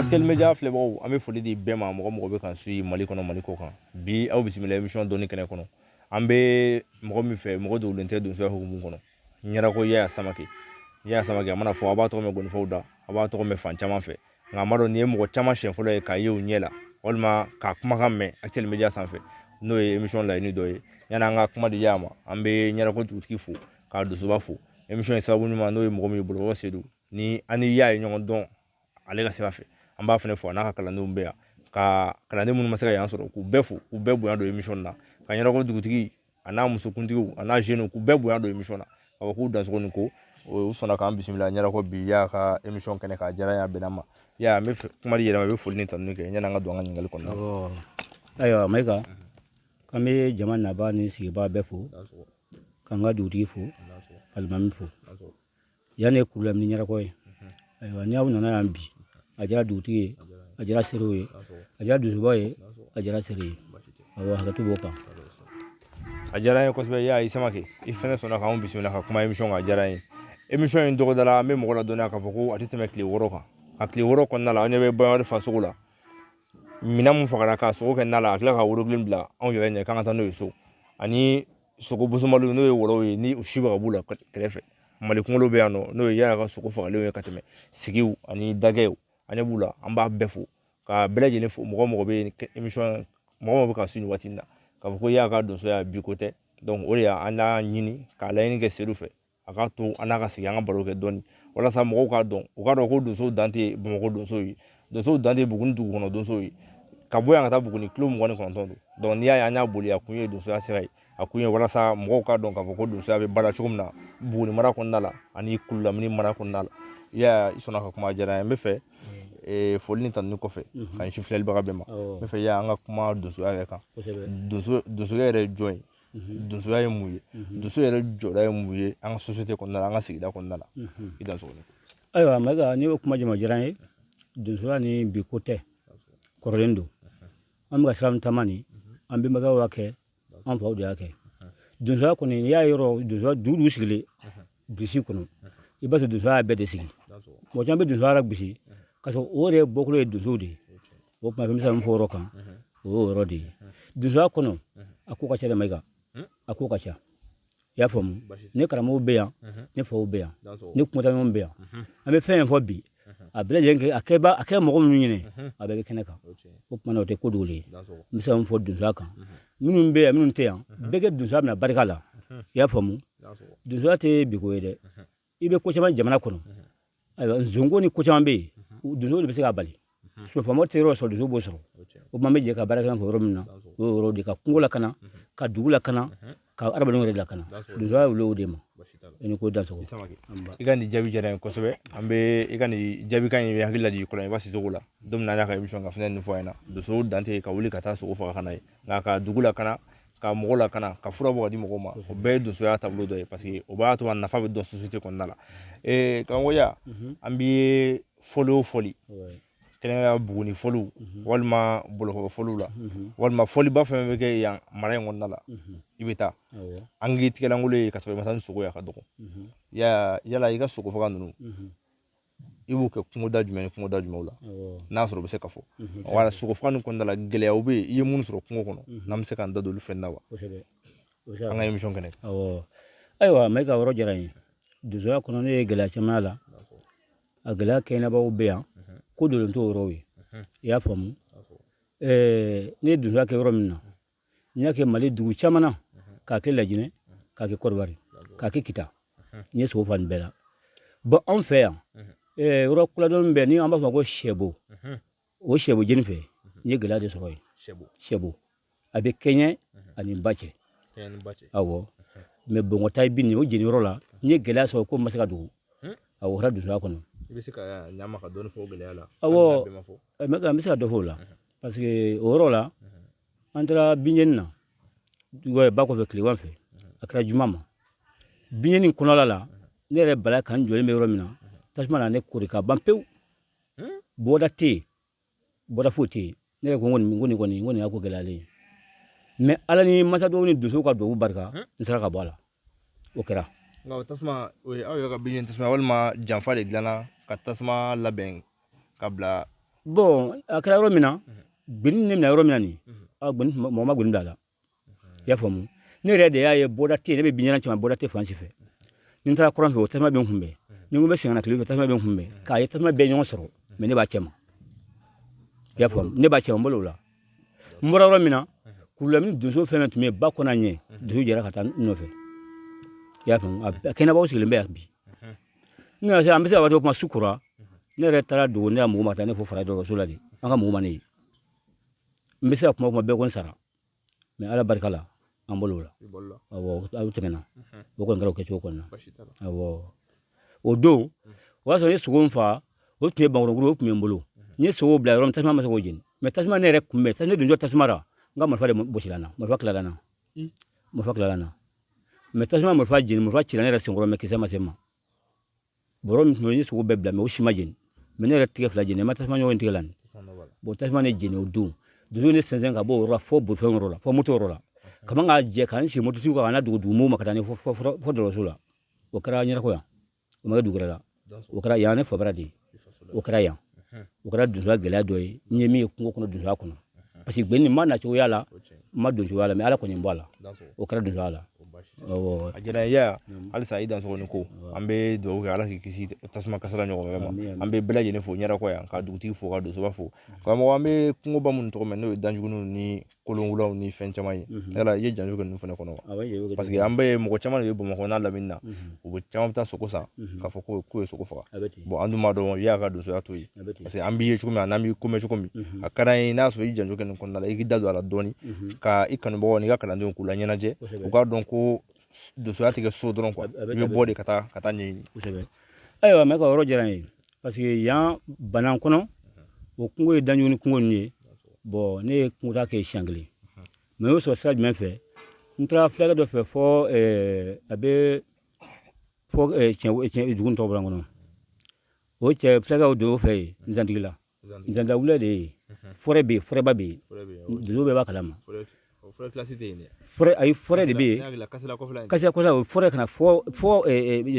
Actuel media filɛbagaw an bɛ foli di bɛɛ ma mɔgɔ mɔgɔ bɛ k'an suivi mali kɔnɔ mali kɔ kan bi aw bisimila emisɔn dɔnni kɛnɛ kɔnɔ an bɛ mɔgɔ min fɛ mɔgɔ dogolen tɛ donsoya hukumu kɔnɔ ɲarako yaya samake yaya samake a mana fɔ a b'a tɔgɔ mɛn ngɔnifɔw da a b'a tɔgɔ mɛn fan caman fɛ nka a ma dɔn nin ye mɔgɔ caman siɲɛ fɔlɔ ye k'a ye u ɲɛ la walima k'a kumakan mɛn actuel media sanfɛ n'o ye emission laɲini dɔ ye yani an ka kuma di yaya ma an bɛ ɲarako dugutigi fo ka donsoba fo emission ye sababu ɲuman n'o ye mɔgɔ min ye bɔlɔlɔ sedu ni an ni yaya ye ɲɔgɔn dɔn ale ka sira fɛ an b'a fana fo a n'a ka kalandenw bɛ yan ka kalanden minnu ma se ka yan sɔrɔ k'u bɛɛ fo k'u bɛɛ bonya don emission na ka ɲarako dugutigi a n'a musokuntigiw a n'a jeunes k'u bɛɛ bonya don emisɔn na k'a fɔ k'u dansogo ni ko u sɔnna k'an bisimila ɲarako bi yaya ka emisɔn kɛnɛ kan a diyara n ye a bɛnna n ma yaya an bɛ kuma di i yɛrɛ ma i bɛ foli ni tanuni kɛ yani an ka don an ka ɲininkali kɔnɔna na ayiwa mayiga k'an bɛ jama nabaa ni sigibaa bɛɛ fo k'an ka dugutigi fo alimami fo Yan ye kurulamini ɲarako ye ayiwa ni aw nana yan bi a diyara dugutigi ye a diyara serew ye a diyara donsoba ye a diyara sere ye hakɛto b'o kan a diyara n ye kosɛbɛ yaya samake i fɛnɛ sɔnna k'an bisimila ka kuma emisɔn kan a diyara n ye emisɔn in dɔgɔdala an bɛ mɔgɔ ladɔnniya k'a fɔ ko a tɛ tɛmɛ tile wɔɔrɔ kan a tile wɔɔrɔ kɔnɔna la an ɲɛ bɛ baɲumankari fasogo la minɛn mun fagara k'a sogo kɛ na la a tila ka worobilen bila anw yɛrɛ ɲɛ k'an ka taa n'o ye so ani sogo bosomaliw n'o ye wɔlɔw ye ni u si bɛ ka b'u la kɛrɛfɛ mali kunkolo bɛ yan nɔ n'o ye yaya ka sogo fagalenw ye ka tɛmɛ sigiw ani dagɛw an ɲɛ b'u la an b'a bɛɛ fo ka bɛɛ lajɛlen fo mɔgɔ mɔgɔ bɛ yen mɔgɔ mɔgɔ bɛ k'an suivi nin waati in na k'a fɔ ko yaya ka donsoya bi ko tɛ o de y'an ɲini k'a laɲini kɛ sedu fɛ a k'a to an n'a ka sigi an ka baro kɛ dɔɔni walasa mɔgɔw k'a dɔn u k'a dɔn ko donsow dan tɛ bamakɔ donsow ye donsow dan tɛ buguni dugu kɔnɔ donsow ye ka bɔ yan ka taa buguni kilo mugan ni kɔnɔntɔn don dɔnku n'i y'a ye an y'a boli a kun ye donsoya sira ye a kun ye walasa mɔgɔw k'a dɔn k'a fɔ ko donsoya bɛ baara cogo min na buguni mara kɔnɔna la ani kululamini mara kɔnɔna la yaya i sɔnna ka kuma a diyara n ye n b'a fɛ eh, foli ni tanuni kɔfɛ ka ɲɛsin filɛlibaga bɛɛ ma n b'a fɛ yaya an ka kuma donsoya yɛrɛ kan donso donsoya yɛrɛ ye jɔn ye mhm. donsoya ye mun ye mhm. donso yɛrɛ jɔda ye mun ye an ka sosiyete kɔnɔna la an ka sigida kɔnɔna la mhm. i dansogo ni ko ayiwa mayiga n'i y'o kuma jama diyara n ye donsoya nin bi ko tɛ kɔrɔlen don an bɛ ka sira min taama nin an bɛnbakɛw y'a kɛ an faw de y'a kɛ donsoya kɔni n'i y'a yɔrɔ donsoya dugu o dugu sigilen burusi kɔnɔ i b'a sɔrɔ donsoya y'a bɛɛ de sigi mɔgɔ caman bɛ donsoya lagosi ka sɔrɔ o yɛrɛ bɔkolo ye donsow de ye o tuma fɛn bɛ se ka min fɔ o yɔrɔ kan o y'o yɔrɔ de ye donsoya kɔnɔ a ko ka ca dɛ mayiga a ko ka ca i y'a faamu ne karamɔgɔw bɛ yan ne faw bɛ yan ne kungotaɲɔgɔnw bɛ yan an bɛ fɛn fɛn fɔ bi a bɛɛ lajɛlen kɛ a kɛ ba a kɛ mɔgɔ minnu ɲɛna a bɛɛ bɛ kɛnɛ kan o tuma na o tɛ ko dogolen ye n bɛ se ka min fɔ donsoya kan minnu bɛ yan minnu tɛ yan bɛɛ ka donsoya minɛ barika la i y'a faamu donsoya tɛ bi ko ye dɛ i bɛ ko caman jamana kɔnɔ ayiwa nzonko ni ko caman bɛ yen donso de bɛ se k'a bali faama tɛ yɔrɔ sɔrɔ donso b'o sɔrɔ o tuma an bɛ jɛ ka baara kɛ ɲɔgɔn fɛ yɔrɔ min na o y'o yɔrɔ de ka kungo lakana ka dugu lakana ka adamadenw yɛrɛ lakana donsoya wuli o de ma i ni ko dansogo i ka nin jaabi diyara n ye kosɛbɛ an bɛ i ka nin jaabikan in bɛ hakili lajigin kɔlɔnjɛba sisɔkɔ la don min na an y'a ka emission ka fɛn nin fɔ a ɲɛna donso dan tɛ ka wuli ka taa sogo faga ka na ye nka ka dugu lakana ka mɔgɔ lakana ka fura bɔ ka di mɔgɔw ma o bɛɛ ye donsoya taabolo dɔ ye paseke o b'a to a nafa bɛ dɔn sosite kɔnɔna la karamɔgɔ yaya an bɛ fɔli o fɔli kɛrɛnkɛrɛnnenya buguni fɔliw walima boloko fɔliw la walima fɔliba fɛn bɛ kɛ yan mara in kɔnɔna la i bɛ taa an k'i tigɛlankolon ye ka sɔrɔ i ma taa ni sogo ye a ka dɔgɔ yala i ka sogo faga ninnu i b'u kɛ kungoda jumɛn ni kungoda jumɛnw la n'a sɔrɔ u bɛ se ka fɔ wala sogo faga nin kɔnɔna la gɛlɛyaw bɛ yen i ye minnu sɔrɔ kungo kɔnɔ n'an bɛ se k'an da don olu fɛn na wa an ka emisɔn kɛnɛ ayiwa mayiga yɔrɔ diyara n ye donsoya kɔnɔ ne ye gɛlɛya caman y'a la a gɛlɛya kɛɲɛnabaw bɛ yan ko dogolen t'o yɔrɔw ye i y'a faamu ne ye donsoya kɛ yɔrɔ min na n y'a kɛ mali dugu caman na k'a kɛ lajinɛ k'a kɛ kɔdiwari k'a kɛ kita n ye sogo fa nin bɛɛ la bɔn anw fɛ yan eh, yɔrɔ kuladɔn bɛ ni an b'a fɔ ko sɛbo o sɛbo jeni fɛ n ye gɛlɛya de sɔrɔ yen sɛbo a bɛ kɛɲɛ ani ba cɛ awɔ mɛ bɔngɔta ye bin o jeni yɔrɔ la n ye gɛlɛya sɔrɔ ko n ma se k'a dogo a wɔra donsoya kɔnɔ i bɛ se ka ɲama ka dɔɔni fɔ o gɛlɛya la awɔ n bɛ se ka dɔ fɔ o la parce que o yɔrɔ la an taara binjeni na ba kɔfɛ tilegan fɛ a kɛra juma ma binjeni kɔnɔla la ne yɛrɛ bala ka n jɔlen bɛ yɔrɔ min na tasuma na ne koori ka ban pewu bɔda tɛ yen bɔda foyi tɛ yen ne yɛrɛ ko n kɔni n ko nin kɔni n ko nin y'a ko gɛlɛyalen ye mɛ ala ni masa dɔw ni donso ka dubabu barika n sera ka bɔ a la o kɛra nka o tasuma o ye aw yɛrɛ ka bin tasuma walima janfa de dilanna ka tasuma labɛn ka bila bɔn a kɛra yɔrɔ min na gbeni ne minɛ yɔrɔ min na nin gbeni mɔgɔ ma gbeni bila a la i y'a faamu ne yɛrɛ de y'a ye bɔda tɛ ne bɛ binjeni cɛ ma bɔda tɛ fan si fɛ ni n taara kɔrɔn fɛ o tasuma bɛ n kunbɛn ni n ko n bɛ segin ka na tile fɛ tasuma bɛ n kunbɛn k'a ye tasuma bɛɛ ɲɔgɔn sɔrɔ mɛ ne b'a cɛ ma i y'a faamu ne b'a cɛ ma n bolo o la n bɔra yɔrɔ min na kurulamini donso fɛn fɛn tun bɛ yen ba kɔnɔ ɲɛ donso jɛra ka taa n nɔfɛ i y'a faamu a kɛnɛbaw sigilen bɛ yan bi n nana se an bɛ se ka waati kuma su kora ne yɛrɛ taara dogo ne ka mɔgɔw ma taa ne fo fara dɔgɔtɔrɔso la de an ka mɔgɔw ma ne ye n bɛ se ka kuma kuma bɛɛ ko n sara mɛ ala barika la an bolo la aw tɛmɛna o kɔni kɛra kɛcogo kɔnɔ o don o y'a sɔrɔ n ye sogo fa o tun ye bakɔrɔnkuru o tun bɛ n bolo n ye sogo bila yɔrɔ min tasuma ma se k'o jeni mɛ tasuma ne yɛrɛ kunbɛn ne don tasuma la n ka marifa de gosira n na marifa tilala n na marifa tilala n na mɛ tasuma marifa jeni marifa cira ne yɛrɛ senkɔrɔ mɛ kisɛ ma se n ma bɔrɔ min tun ye sogo bɛɛ bila mɛ o si ma jeni mɛ ne yɛrɛ tigɛ fila jeni ma tasuma ɲɔgɔn tigɛ la nin bɔn tasuma ne jeni o don donso ne sɛnsɛn ka bɔ o yɔrɔ la fo bolifɛn yɔrɔ la fo moto yɔrɔ la ka man k'a jɛ ka n si mototigiw kan ka na dugumɔgɔw ma ka taa ni fo dɔgɔtɔrɔso la o kɛra ɲarakɔ yan o ma kɛ dugu wɛrɛ la o kɛra yan ne fabara de ye o kɛra yan o kɛra donsoya gɛlɛya dɔ ye n ye min ye kungo kɔnɔ donsoya kɔnɔ parce que geni ma nacogoya la n ma donsoya la mɛ ala kɔni n bɔ a la o kɛra donsoya la a diyara n ye halisa i dansɔgɔ i ni ko an bɛ dugawu kɛ ala k'i kisi tasuma kasara ɲɔgɔn wɛrɛ ma an bɛ bɛɛ lajɛlen fo ɲarakɔ yan ka dugutigi fo ka donsoba fo karamɔgɔ an bɛ kungoba minnu tɔgɔ mɛn n'o ye danjugu ni kolonwulaw ni fɛn caman ye yala i ye janjo kɛ ninnu fana kɔnɔ wa paseke an bɛ mɔgɔ caman de ye bamakɔ n'a lamini na u bɛ caman bɛ taa sogo san k'a fɔ k'u ye sogo faga an dun b'a dɔn i ka donsoya t'o ye paseke an b'i ye cogo min na n'an b'i ko mɛn cogo min a ka d'an ye n'a sɔrɔ i janjo kɛ nin kɔnɔna la i k'i da don a la dɔɔni ka i kanubagaw n'i ka kalandenw k'u laɲɛnajɛ u k'a dɔn ko donsoya tɛ kɛ so dɔrɔn i bɛ bɔ de ka taa ka taa ɲɛɲini ayiwa mɛ ka yɔrɔ diyara n ye parce que yan banan kɔnɔ o kungo ye danjuguni kungo ninnu ye bɔn ne ye kungotaa kɛ siɲɛ kelen mɛ o sɔrɔ sira jumɛn fɛ n taara fulakɛ dɔ fɛ fɔ a bɛ fɔ dugu tɔgɔ bɔra n kɔnɔ o cɛ fulakɛ o don o fɛ yen nzantigila Zandawula de ye forêt bɛ yen forêtba bɛ yen donso bɛɛ b'a kalama ayi forêt de bɛ yen kasela kɔfɛla o forêt ka na fo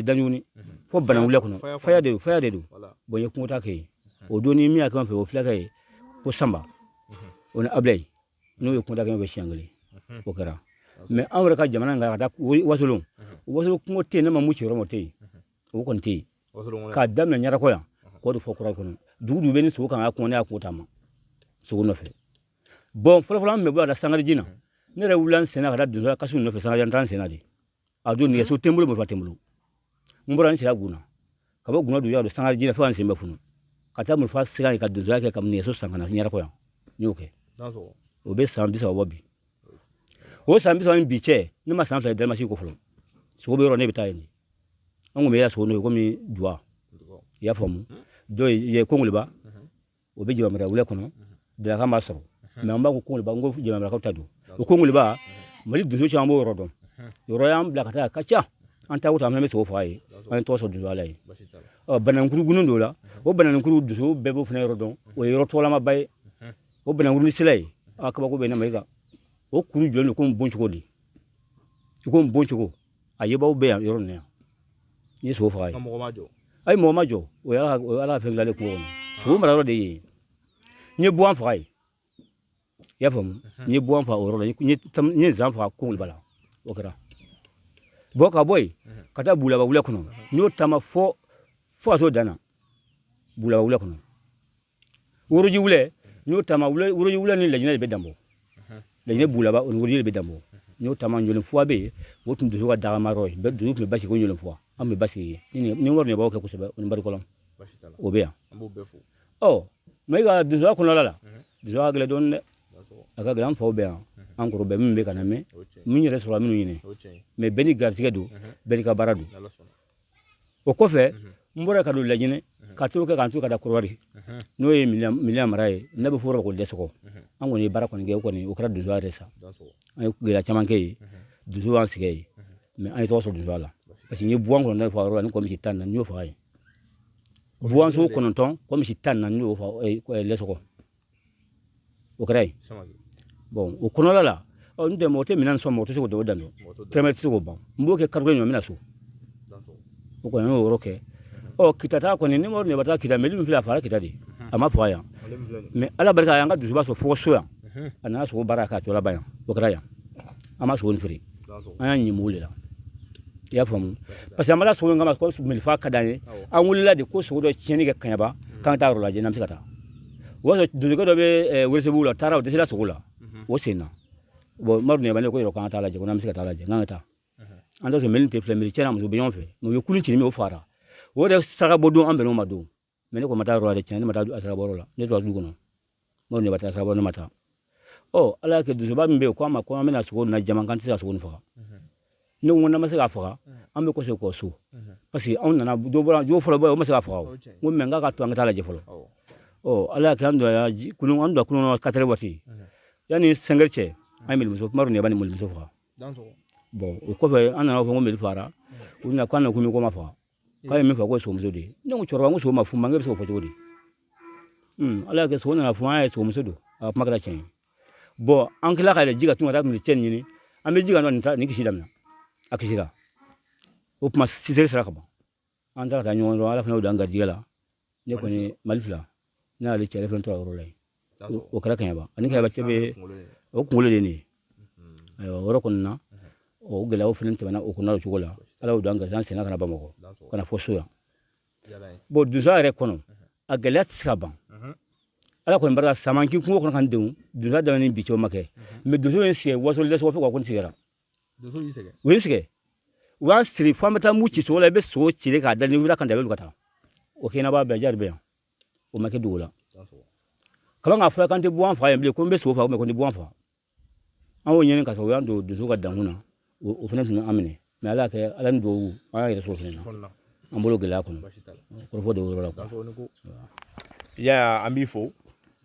danjuguni fo banawula kɔnɔ faya de don bon n ye kungotaa kɛ yen o don ni min y'a kɛ n fɛ o fulakɛ ye ko sanba o ni abilayi n'o ye kungotaa kɛ n fɛ siɲɛ kelen o kɛra mɛ anw yɛrɛ ka jamana kan ka taa wasolon kungo tɛ yen ne ma mugu ci yɔrɔ min o tɛ yen o kɔni tɛ yen k'a daminɛ ɲarakɔ yan k'o de fɔ kura kɔnɔ dugu o dugu bɛ ni sogo kan ka kɔnɔ ne y'a kungo taama sogo nɔfɛ bɔn fɔlɔfɔlɔ an bɛ bɔ a la sangariji na ne yɛrɛ wulila n senna ka taa donso kasi nɔfɛ sangariji an taa n senna de a don nɛgɛso tɛ n bolo marifa tɛ n bolo n bɔra n sira gunna ka bɔ gunna duguya don sangariji la fo ka n sen bɛɛ funu ka taa marifa sira ye ka donsoya kɛ ka nɛgɛso san ka na ɲarakɔ yan n y'o kɛ o bɛ san bi saba bɔ bi o san bi saba ni bi cɛ ne ma san fila ye dalimasi ko fɔlɔ sogo bɛ yɔrɔ ne bɛ taa yen de an kun bɛ yaso n'o ye komi duwa i y'a faamu dɔ ye kongoleba o bɛ jabamara wula kɔnɔ dalakan b'a sɔrɔ mɛ an b'a ko kongoleba n ko jabamarakaw ta don o kongoleba mali donso caman b'o yɔrɔ dɔn yɔrɔ y'an bila ka taa a ka ca an taa wuta an bɛ sogo faga yen an ye tɔgɔ sɔrɔ donsoya la yen ɔ banankuru gunnu don la o banankuru donso bɛɛ b'o fana yɔrɔ dɔn o ye yɔrɔ tɔgɔlamaba ye o banankuru ni sira ye a kabako bɛ ne ma i kan o kuru jɔlen don komi bon cogo de i komi bon cogo A yebaw bɛ yan yɔrɔ min yan n ye sogo faga yen mɔgɔ m'a jɔ ayi mɔgɔ m'a jɔ o y'a o y'ala ka fɛn dilanlen kungo kɔnɔ sogo mara yɔrɔ de ye n ye buwan faga yen i y'a faamu n ye buwan faga o yɔrɔ la n ye tam- n ye zan faga kongoleba la o kɛra bɔn ka bɔ yen ka taa bulaba wula kɔnɔ n y'o taama fo fo ka s'o dan na bulaba wula kɔnɔ woroji wula n y'o taama woroji wula ni lajinɛ de bɛ danbɔ lajinɛ bulaba o ni woroji de bɛ danbɔ n y'o taama ɲɔlen fuwa bɛ yen o tun donso ka dagama yɔrɔ ye donso tun bɛ basigi ko ɲɔlen fuwa an bɛ basigi yen ni wari ɲɛbaaw kɛ kosɛbɛ o ni barikɔlɔn o bɛ yan ɔ mɛ i ka donsoya kɔnɔla la donsoya ka gɛlɛn dɔɔnin dɛ a ka gɛlɛn an faw bɛ yan an kɔrɔ bɛɛ min bɛ ka na mɛn min yɛrɛ sɔrɔ minnu ɲini mɛ bɛɛ n'i garisigɛ don bɛɛ n'i ka baara don o kɔfɛ n bɔra ka don lajinɛ ka t'o kɛ k'an to ka da kɔdiwari n'o ye miliya mara ye n'a bɛ fɔ ko dɛsɛgɔ an kɔni ye baara kɔni kɛ o kɔni o kɛra donsoya yɛrɛ sa an ye gɛlɛya caman kɛ yen donsoya y'an sɛgɛn yen mɛ an ye tɔgɔ sɔrɔ donsoya la parce que n ye buwan kɔnɔntɔn de faga yɔrɔ la ni kɔmisi tan na n y'o faga yen buwanso kɔnɔntɔn kɔmisi tan na n y'o faga lɛsɔgɔ o kɛra yen bɔn o kɔnɔla la ɔ n tɛ mɔgɔ tɛ minan sogo mɔgɔ tɛ se k'o dɔw dan tɛrɛmɛ tɛ se k'o ban n b'o kɛ kariko ɲɔ minan sogo o kɔni y'o yɔrɔ kɛ ɔ kita taa kɔni ni mɔgɔ taa kita mɛli min filɛ a fagara kita de a ma faga yan mɛ ala barika a y'an ka donsoba sɔrɔ fo so yan a nana sogo baara k'a tɔlaba yan o kɛra yan an ma sogo nin feere an y'a ɲimi o de la i y'a faamu parce que an ma na sogo in kama ko mɛli faga ka d'an ye an wulila de ko sogo dɔ tiɲɛni kɛ kaɲaba k'an ka taa yɔrɔ lajɛ n'an bɛ se ka taa o b'a sɔrɔ donsokɛ dɔ bɛ welesebugu la taara o dɛsɛra sogo la o sen na bɔn madu ɲɛba ne ko yɔrɔ k'an t'a lajɛ ko n'an bɛ se ka taa lajɛ n'an ka taa an t'a sɔrɔ mɛli tɛ filɛ mɛli cɛ n'a muso bɛ ɲɔgɔn fɛ mɛ u ye kulun ci min o fagara o yɛrɛ saraka bɔ don an bɛn'o ma don mɛ ne kun ma taa yɔrɔ la dɛ tiɲɛ ne ma taa a saraka bɔ yɔrɔ la ne tora du kɔnɔ madu ɲɛba taa saraka bɔ ne ma taa ɔ ala y'a kɛ donsoba min bɛ yen k'a ma ko an bɛna sogo na jama k'an tɛ se ka sogo nin faga ne ko n'an ma se k'a faga an bɛ kɔsegin kɔ so parce que anw nana dɔ bɔra jo fɔlɔ bɔ o ma se k'a faga o n ko mɛ n k'a ka to an ka taa lajɛ fɔlɔ ɔ ala y'a kɛ an donna kunun an donna kunun katɛrɛ waati yanni sɛngɛri cɛ an ye melimuso madu ɲɛba ni melimuso faga bɔn o kɔfɛ an nana fɔ ko meli fagara u bɛna k'an na ko mi ko ma faga k'a ye min fɔ k'o ye somuso de ye ne ko cɛkɔrɔba n ko so ma f'u ma n k'e bɛ se k'o fɔ cogo di ala y'a kɛ so nana fɔ an ye somuso don a ka kuma kɛra tiɲɛ ye bɔn an tila ka yɛlɛ ji ka tun ka taa tun bɛ cɛ nin ɲini an bɛ ji ka nɔ nin ta nin kisi daminɛ a kisira o tuma sisere sera ka ban an taara ka taa ɲɔgɔn dɔn ala fana y'o da n garijɛgɛ la ne kɔni mali fila ne y'ale cɛ ale fɛn to a yɔrɔ la yen o kɛra kɛɲɛba ani kɛɲɛba cɛ bɛ o kunkolo de ye nin ayiwa o yɔrɔ kɔni na o gɛlɛyaw fana tɛmɛna o kɔnɔ o cogo la ala y'o da n garisɛgɛ n sera ka na bamakɔ ka na fɔ so yan bɔn donsoya yɛrɛ kɔnɔ a gɛlɛya tɛ se ka ban ala kɔni barika saman k'i kungo kɔnɔ ka n denw donsoya daminɛ ni bi cɛ o ma kɛ mɛ donso ye sigi waso lɛsɔgɔ fo ka ko n sigira donso y'i sɛgɛn u ye sɛgɛn u y'a siri fo an bɛ taa mugu ci sogo la i bɛ sogo cile k'a da ni wulila kan da i bɛ ka taa o kɛnɛ b'a bɛɛ jari bɛ yan o ma kɛ dugu la kaban k'a fɔ k'an tɛ bɔ an fa yan bilen ko n bɛ sogo faga ko n tɛ bɔ an fa an y'o ɲini ka sɔrɔ u y'an don donso ka dankun na o fana tun bɛ an minɛ mɛ ala kɛ ala ni dugawu an y'a yɛrɛ sɔrɔ fana na an bolo gɛlɛya kɔnɔ kɔrɔfɔ de yɔrɔ la yaya an b'i fo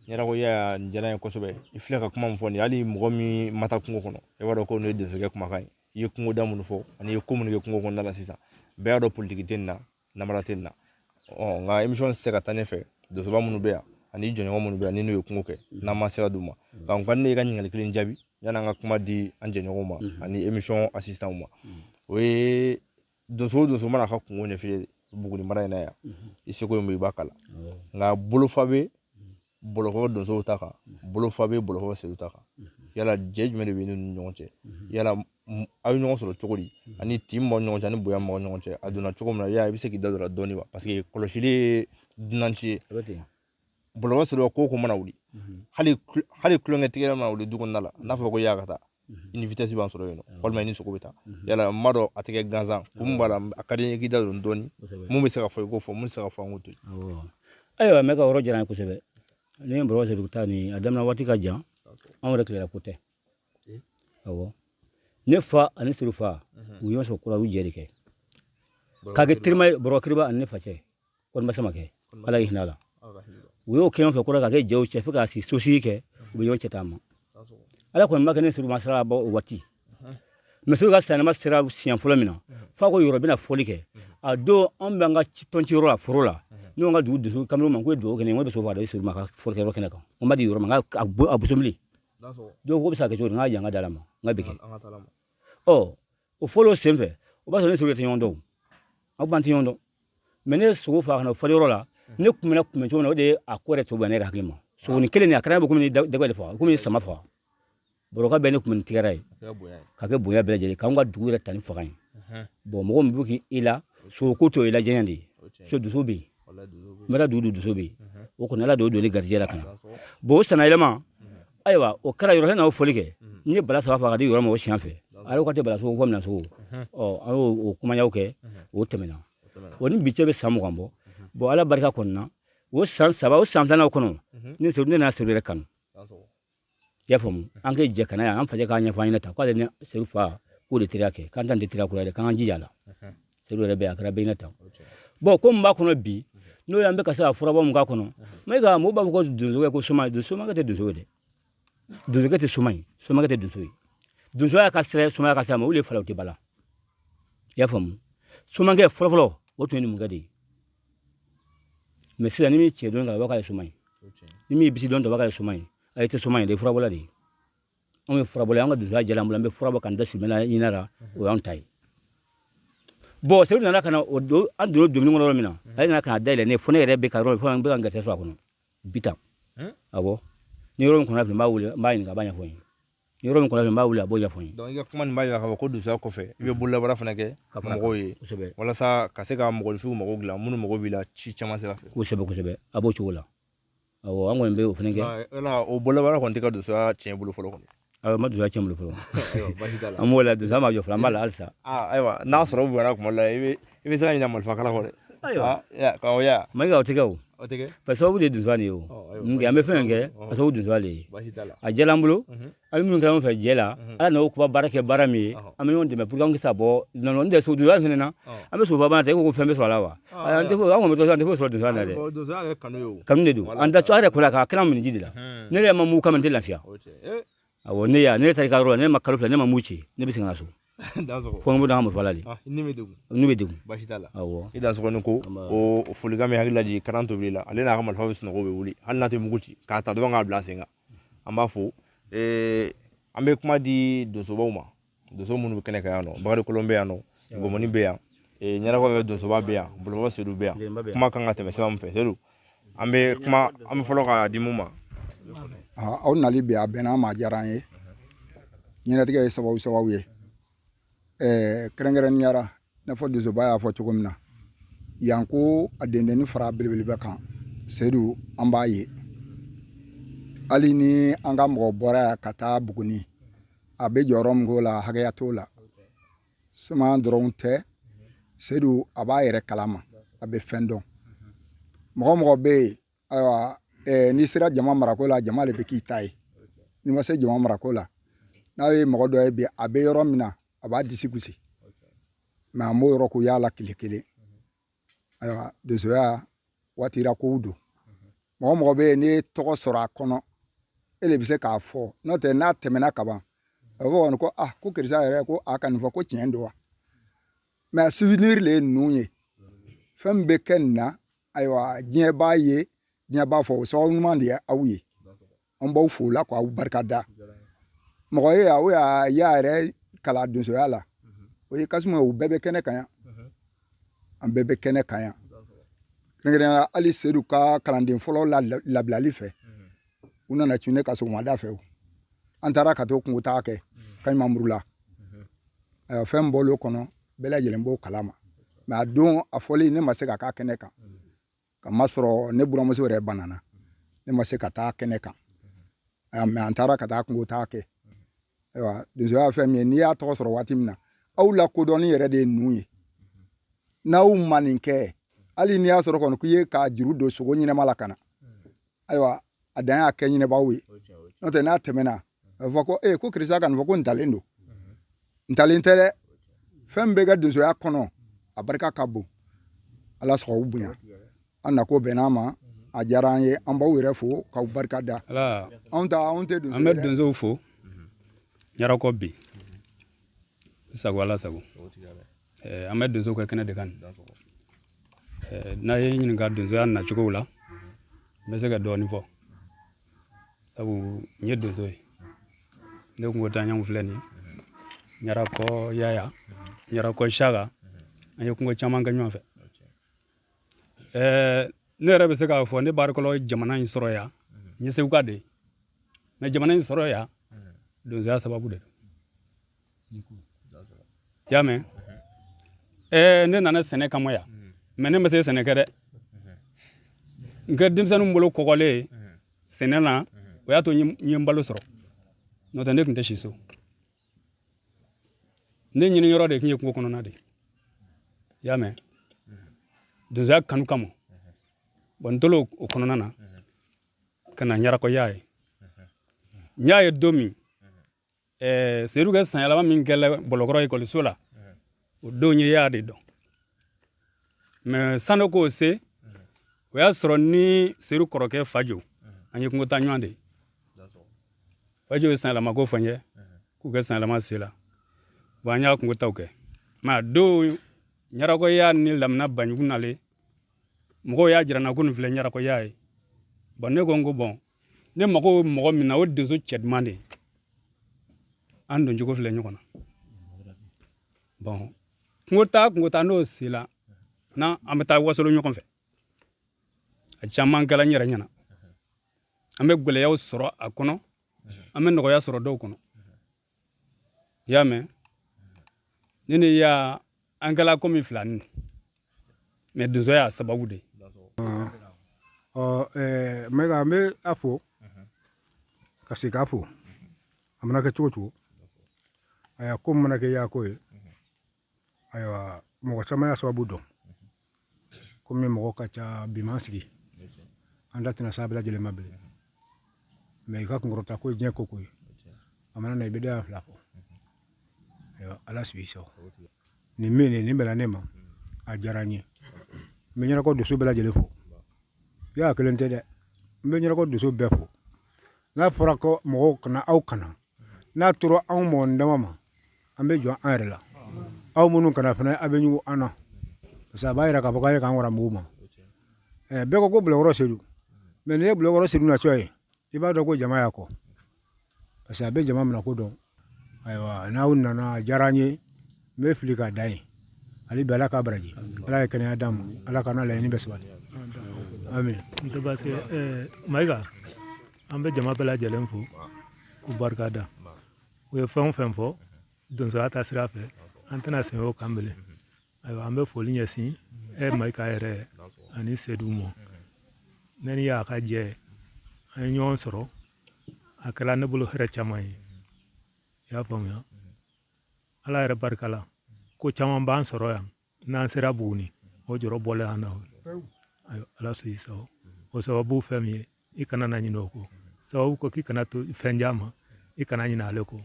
yɛrɛ ko yaya nin diyara n ye kosɛbɛ i filɛ ka kuma min fɔ nin hali mɔgɔ min ma taa kungo kɔnɔ i b'a dɔn ko nin ye donsokɛ kumakan ye i ye kungoda minnu fɔ ani i ye ko minnu kɛ kungo kɔnɔna la sisan bɛɛ y'a dɔn politiki tɛ nin na namara tɛ nin na ɔ nka emisiyɔn tɛ se ka taa ne fɛ donsoba minnu bɛ yan ani jɛɲɔgɔn minnu bɛ yan ni n'u ye kungo kɛ n'an ma sira d'u ma nka n ka ne ka ɲininkali kelen jaabi yann'an ka kuma di an jɛɲɔgɔnw ma ani emisiyɔn asisitanw ma o ye donso donso mana ka kungo ɲɛfile buguni mara in na yan i seko ye mun i b'a kala nka bolofa bɛ bɔlɔkɔ donsow ta kan bolofa bɛ bɔlɔkɔ sedu ta kan yala jɛ jumɛn de b'i n'u ni ɲɔgɔn cɛ yala aw ye ɲɔgɔn sɔrɔ cogo di ani tin min b'aw ɲɔgɔn cɛ ani bonya min b'aw ɲɔgɔn cɛ a donna cogo min na yala i bɛ se k'i da don a la dɔɔni wa paseke kɔlɔsili ye dunanci ye bɔlɔkɔ sedu ko ko mana wuli hali hali kulonkɛ tigɛ mana wuli du kɔnɔna la n'a fɔra ko yaya ka taa i ni vitɛsi b'an sɔrɔ yen nɔ walima i ni sogo bɛ taa yala n b'a dɔn a tɛ kɛ gansan ko mun b'a la a ka di n ye k'i da don dɔɔni mun bɛ se ka fɔ i k'o fɔ mun tɛ se ka fɔ an k'o to yen ayiwa mɛ ka yɔrɔ diyara n ye kosɛbɛ ne ni bɔlɔkɔ sedu ta nin a daminɛ waati ka jan anw yɛrɛ tile la ko tɛ awɔ ne fa ani sedu fa u ye ɲɔgɔn sɔrɔ kura u jɛ de kɛ k'a kɛ terima ye bɔrɔ kiriba ani ne fa cɛ kɔni ma sama kɛ ala y'i hinɛ a la u y'o kɛ fɛ kɔrɔ ka kɛ jɛw cɛ fo k'a si sosi kɛ u bɛ ɲɔgɔn cɛ taama ala kɔni ma kɛ ne ni sedu ma sira bɔ o waati misiw ka sɛnɛma sera siɲɛ fɔlɔ min na f'a ko yoro bɛna fɔli kɛ a don an bɛ an ka tɔnciyɔrɔ la foro la n'o ka dugu donso kamalen ma ko ye dugawu kɛ n ko bɛ sogo faga a di sedu ma ka fɔlikɛ yɔrɔ kɛnɛ kan n ma di yoro ma a bisimila don ko bɛ se ka kɛ cogo di n k'a y'an ka d'ala ma n k'a bɛ kɛ ɔ o fɔli senfɛ o b'a sɔrɔ ne ni sedu tɛ ɲɔgɔn dɔn aw b'an tɛ ɲɔgɔn dɔn mɛ ne sogo faga ka na fo yɔrɔ la ne kun bɛna kunbɛn cogo min na o de ye a ko yɛrɛ to bɛn ne hakili ma sogonin kelen nin a kɛra bɛ komi dagɛ de faga komi sama faga bɔrɔka bɛɛ ne kun bɛ nin tigɛra ye ka kɛ bonya bɛɛ lajɛlen k'an ka dugu yɛrɛ ta ni faga ye bɔn mɔgɔ min bɛ k'i i la sogoko to i la jɛɲɛ de ye so donso bɛ yen n bɛ taa dugu donso bɛ yen o kɔni ala de y'o don ne garijɛ la ka na bɔn o sanayɛlɛma ayiwa o kɛra yɔrɔ n'aw foli kɛ n ye bala saba faga k'a di yɔrɔ ma o siɲɛ fɛ a y'o k'a tɛ bala sogo ko minan sogo ɔ an y'o o kumayaw kɛ o tɛmɛna o ni bi cɛ bɛ san mugan bɔ bɔn ala barika kɔni na o san saba o san filanan kɔnɔ ne sori ne n'a sori yɛrɛ kanu i y'a faamu an ka jɛ ka na yan an fajɛ k'a ɲɛfɔ an ɲɛna ta k'ale ni sedu fa k'o de teriya kɛ k'an t'an tɛ teriya kura yɛrɛ k'an ka jija a la e yɛrɛ bɛ a kɛra bɛɛ n'a ta bɔn ko mun b'a kɔnɔ bi n'o y'an bɛ ka se ka furabɔ mun k'a kɔnɔ mɛ nka mɔgɔw b'a fɔ ko donsokɛ ko soma somakɛ tɛ donso ye dɛ donso tɛ soma ye somakɛ tɛ donso ye donso y'a ka sira soma y'a ka sira ma olu ye falaw tɛ bala i y'a faamu somakɛ fɔlɔfɔlɔ o tun ye numukɛ de ye mɛ sisan ni min cɛ don ka bɔ k'a ye soma ye ni min ye basi dɔn daba k'a ye soma ye a ye tɛ soma ye dɛ furabɔla de ye anw ye furabɔla ye an ka donsoya diyala an bolo an bɛ furabɔ k'an da sumɛla ɲini a la o y'anw ta ye bɔn seyidu nana ka na o don an donna dumuni kɔnɔ yɔrɔ min na ale nana ka na dayɛlɛ ne ye fo ne yɛrɛ bɛ ka yɔrɔ fo an bɛ ka n garisɛ sɔrɔ a kɔnɔ bitan awɔ ni yɔrɔ min kɔnɔ fili n b'a wele n b'a ɲininka a b'a ɲɛfɔ n ye ni yɔrɔ min kɔnɔ fili n b'a wele a b'o ɲɛfɔ n ye donc i ka kuma nin b'a jira k'a fɔ ko donsoya kɔfɛ i bɛ bololabaara fana kɛ ka fara mɔgɔw ye kosɛbɛ walasa ka se ka mɔgɔninfinw mago dilan minnu mago b'i la ci caman sira fɛ kosɛbɛ kosɛbɛ a b'o cogo la awɔ an kɔni bɛ o fana kɛ o bololabaara kɔni tɛ ka donsoya tiɲɛ bolo fɔlɔ kɔni o ma donsoya tiɲɛ bolo fɔlɔ an b'o la donsoya ma jɔ fɔlɔ an b'a la halisa ayiwa n'a sɔrɔ u bonyana kuma dɔ la i bɛ i bɛ se ka ɲina marifa kala kɔ dɛ ayiwa mɛ o tɛ kɛ o ka sababu de ye donsoya de ye o an bɛ fɛn kɛ k'a sababu donsoya de ye a diyala an bolo A bɛ minnu kɛ fɛ jɛ la ala n'o kuba baara kɛ baara min ye an bɛ dɛmɛ pour sa bɔ nɔn tɛ so donsoya fana na an bɛ soba e ko fɛn bɛ sɔrɔ a la wa an tɛ sɔrɔ donsoya la dɛ kanu de don an da yɛrɛ ko la k' kira miniji de la ne yɛrɛ ma mugu kan tɛ lafiya a ne yan ne ta ka yɔrɔ ne ma kalo fɛ ne ma mugu ci ne bɛ se ka so fo bɛ d'a ma fɔ la n'u bɛ i da ko folikan min hakili la kalan to la ale n'a ka marifa bɛ sunɔgɔ bɛ wuli hali n'a tɛ mugu ci k'a ta dɔrɔn k'a bila sen kan an b'a fo ee an bɛ kuma di donsobaw ma donso minnu bɛ kɛnɛ kan yan nɔ bakari kolon bɛ yan nɔ gɔmɔni bɛ yan ɲarakɔ donsoba bɛ yan bolokɔ sedu bɛ yan kuma kan ka tɛmɛ sira min fɛ sedu an bɛ kuma an bɛ fɔlɔ k'a di mun ma aw nali bɛ a bɛnna an ma a diyara an ye ɲɛnatigɛ ye sababu sababu ye ɛɛ kɛrɛnkɛrɛnnenya la i n'a fɔ donsoba y'a fɔ cogo min na yan ko a dendennin fara belebeleba kan seyidu an b'a ye hali ni an ka mɔgɔ bɔra yan ka taa buguni a bɛ jɔyɔrɔ min k'o la hakɛya t'o la suma dɔrɔn tɛ seyidu a b'a yɛrɛ kalama a bɛ fɛn dɔn mɔgɔ mɔgɔ bɛ yen ayiwa eh, n'i sera jama marako la jama de bɛ k'i ta ye n'i ma se jama marako la n'a ye mɔgɔ dɔ ye bi a bɛ yɔrɔ min na a b'a disi gosi mɛ an b'o yɔrɔ ko y'a la tile kelen ayiwa donsoya waatira kow don mɔgɔ mɔgɔ bɛ yen n'i ye tɔgɔ sɔrɔ a kɔnɔ e de bɛ se k'a fɔ n'o tɛ n'a tɛmɛna ka ban a bɛ fɔ kɔni ko ah ko karisa yɛrɛ ko a ka nin fɔ ko tiɲɛ don wa mɛ souvenir de ye ninnu ye fɛn min bɛ kɛ nin na ayiwa diɲɛ b'a ye diɲɛ b'a fɔ o sababu ɲuman de ye aw ye an b'aw fo la k'aw barika da mɔgɔ ye aw y'a y'a yɛrɛ kala donsoya la mhm. o ye kasuma u bɛɛ bɛ kɛnɛ kan yan mhm. an bɛɛ bɛ kɛnɛ kan yan kɛrɛnkɛrɛnnenya hali seyidu ka kalanden fɔlɔ labilali fɛ mhm. u nana cun ne kan sɔgɔmada fɛ o an taara ka t'o kungo taa kɛ kaɲumamuru la ayiwa fɛn b'olu kɔnɔ bɛɛ lajɛlen b'o kalama mɛ a don a fɔli ne ma se ka k'a kɛnɛ kan k'a masɔrɔ ne buranmuso yɛrɛ banana ne ma se ka taa kɛnɛ kan mɛ an taara ka taa kungo taa kɛ ayiwa donsoya fɛn min ye n'i y'a tɔgɔ sɔrɔ waati min na aw la kodɔnni yɛrɛ de ye ninnu ye n'aw ma nin kɛ hali n'i y'a sɔrɔ kɔni k'i ye ka juru don sogo ɲɛnama la ka na ayiwa a dan y'a kɛ ɲinɛbaaw ye n'o tɛ n'a tɛmɛna a bɛ fɔ ko ee ko karisa ka nin fɔ ko ntalen don ntalen tɛ dɛ fɛn bɛ kɛ donsoya kɔnɔ a barika ka bon ala sago bonya an nako bɛnn'a ma a diyara an ye an b'aw yɛrɛ fo k'aw barika da anw ta anw tɛ donso an bɛ donsow fo ɲarakɔ bi sago ala sago Eh, an bɛ donso ka kɛnɛ de kan eh, n'a ye n ɲininka donsoya nacogow la n bɛ se ka dɔɔnin fɔ sabu n ye donso ye ne kungo taaɲɔgɔnw filɛ nin ye ɲarakɔ yaya ɲarakɔ siyaka an ye kungo caman kɛ ɲɔgɔn fɛ eh, ne yɛrɛ bɛ se k'a fɔ ne barikɔlɔ jamana in sɔrɔ yan n ye seguka de ye mɛ jamana in sɔrɔ yan donsoya sababu de don i y'a mɛn ɛɛ ne nana sɛnɛ kama yan mɛ ne ma se sɛnɛ kɛ dɛ nka denmisɛnninw bolo kɔgɔlen sɛnɛ na o y'a to n ye n balo sɔrɔ n'o tɛ ne tun tɛ si so ne ɲini yɔrɔ de tun ye kungo kɔnɔna de ye i y'a mɛn donsoya kanu kama bɔn n tolen o kɔnɔna na ka na ɲarakɔ yaya ye n y'a ye don min ɛɛ seyidu ka san yɛlɛma min kɛla bɔlɔkɔrɔ ekɔliso la o don n ye ya de dɔn mɛ sanu k'o se o y'a sɔrɔ ni seyidu kɔrɔkɛ fajo an ye kungotaa ɲɔgɔn de fajo ye san yɛlɛma ko fɔ n ye k'u ka san yɛlɛma sela bɔn an y'a kungotaaw kɛ mɛ a don ɲarakɔ ya ni lamina baɲugu nalen mɔgɔw y'a jira n na ko nin filɛ ɲarakɔ ya ye bɔn ne ko n ko bɔn ne mago bɛ mɔgɔ min na o donso cɛ duman de an don cogo filɛ ɲɔgɔn na bɔn kungo taa kungo taa n'o sela na an bɛ taa wasolo ɲɔgɔn fɛ a caman kɛla n yɛrɛ ɲɛna an bɛ gɛlɛyaw sɔrɔ a kɔnɔ an bɛ nɔgɔya sɔrɔ dɔw kɔnɔ i y'a mɛn ne ni ya an kɛla komi filanin mɛ donsoya sababu de ɔ n bɛ ka n bɛ a fo ka se k'a fo a mana kɛ cogo cogo ayiwa ko mana kɛ ya ko ye ayiwa mɔgɔ caman y'a sababu dɔn kɔmi mɔgɔ ka ca bi ma sigi an da tɛna s'a bɛɛ lajɛlen ma bilen mɛ i ka kunkɔrɔta ko ye diɲɛ ko ko ye a mana na i bɛ da fila fɔ ayiwa ala sigi sa nin min nin nin bɛnna ne ma a diyara n ye n bɛ ɲarakɔ donso bɛɛ lajɛlen fo ya kelen tɛ dɛ n bɛ ɲarakɔ donso bɛɛ fo n'a fɔra ko mɔgɔw ka na aw ka na n'a tora anw mɔgɔ dama ma an bɛ jɔ an yɛrɛ la aw minnu ka na fana aw bɛ ɲugu an na parce que a b'a jira k'a fɔ k'a ye k'an wara mugu ma ɛɛ bɛɛ ko ko bɔlɔkɔrɔ sedu mɛ n'i ye bɔlɔkɔrɔ sedu na cogo ye i b'a dɔn ko jama y'a kɔ parce que a bɛ jama minɛ ko dɔn ayiwa n'aw nana a diyara an ye n bɛ foli k'a da ye hali bi ala k'a baraji ala ye kɛnɛya d'a ma ala k'an laɲini bɛɛ sabati a min tɛ baasi kɛ ɛɛ mayiga an bɛ jama bɛɛ lajɛlen fo k'u barika da u ye fɛn o fɛn fɔ donsoya taasira fɛ an tɛna segin o kan bilen ayiwa an bɛ foli ɲɛsin e mayiga yɛrɛ ani sedu ma ne ni ya ka jɛ an ye ɲɔgɔn sɔrɔ a kɛra ne bolo hɛrɛ caman ye i y'a faamuya ala yɛrɛ barika la ko caman b'an sɔrɔ yan n'an sera buguni o jɔrɔ bɔlen an na ala sɔn i sago o sababu fɛn min ye i kana na ɲinɛ o kɔ sababu ko k'i kana to fɛn diya ma i kana ɲinɛ ale kɔ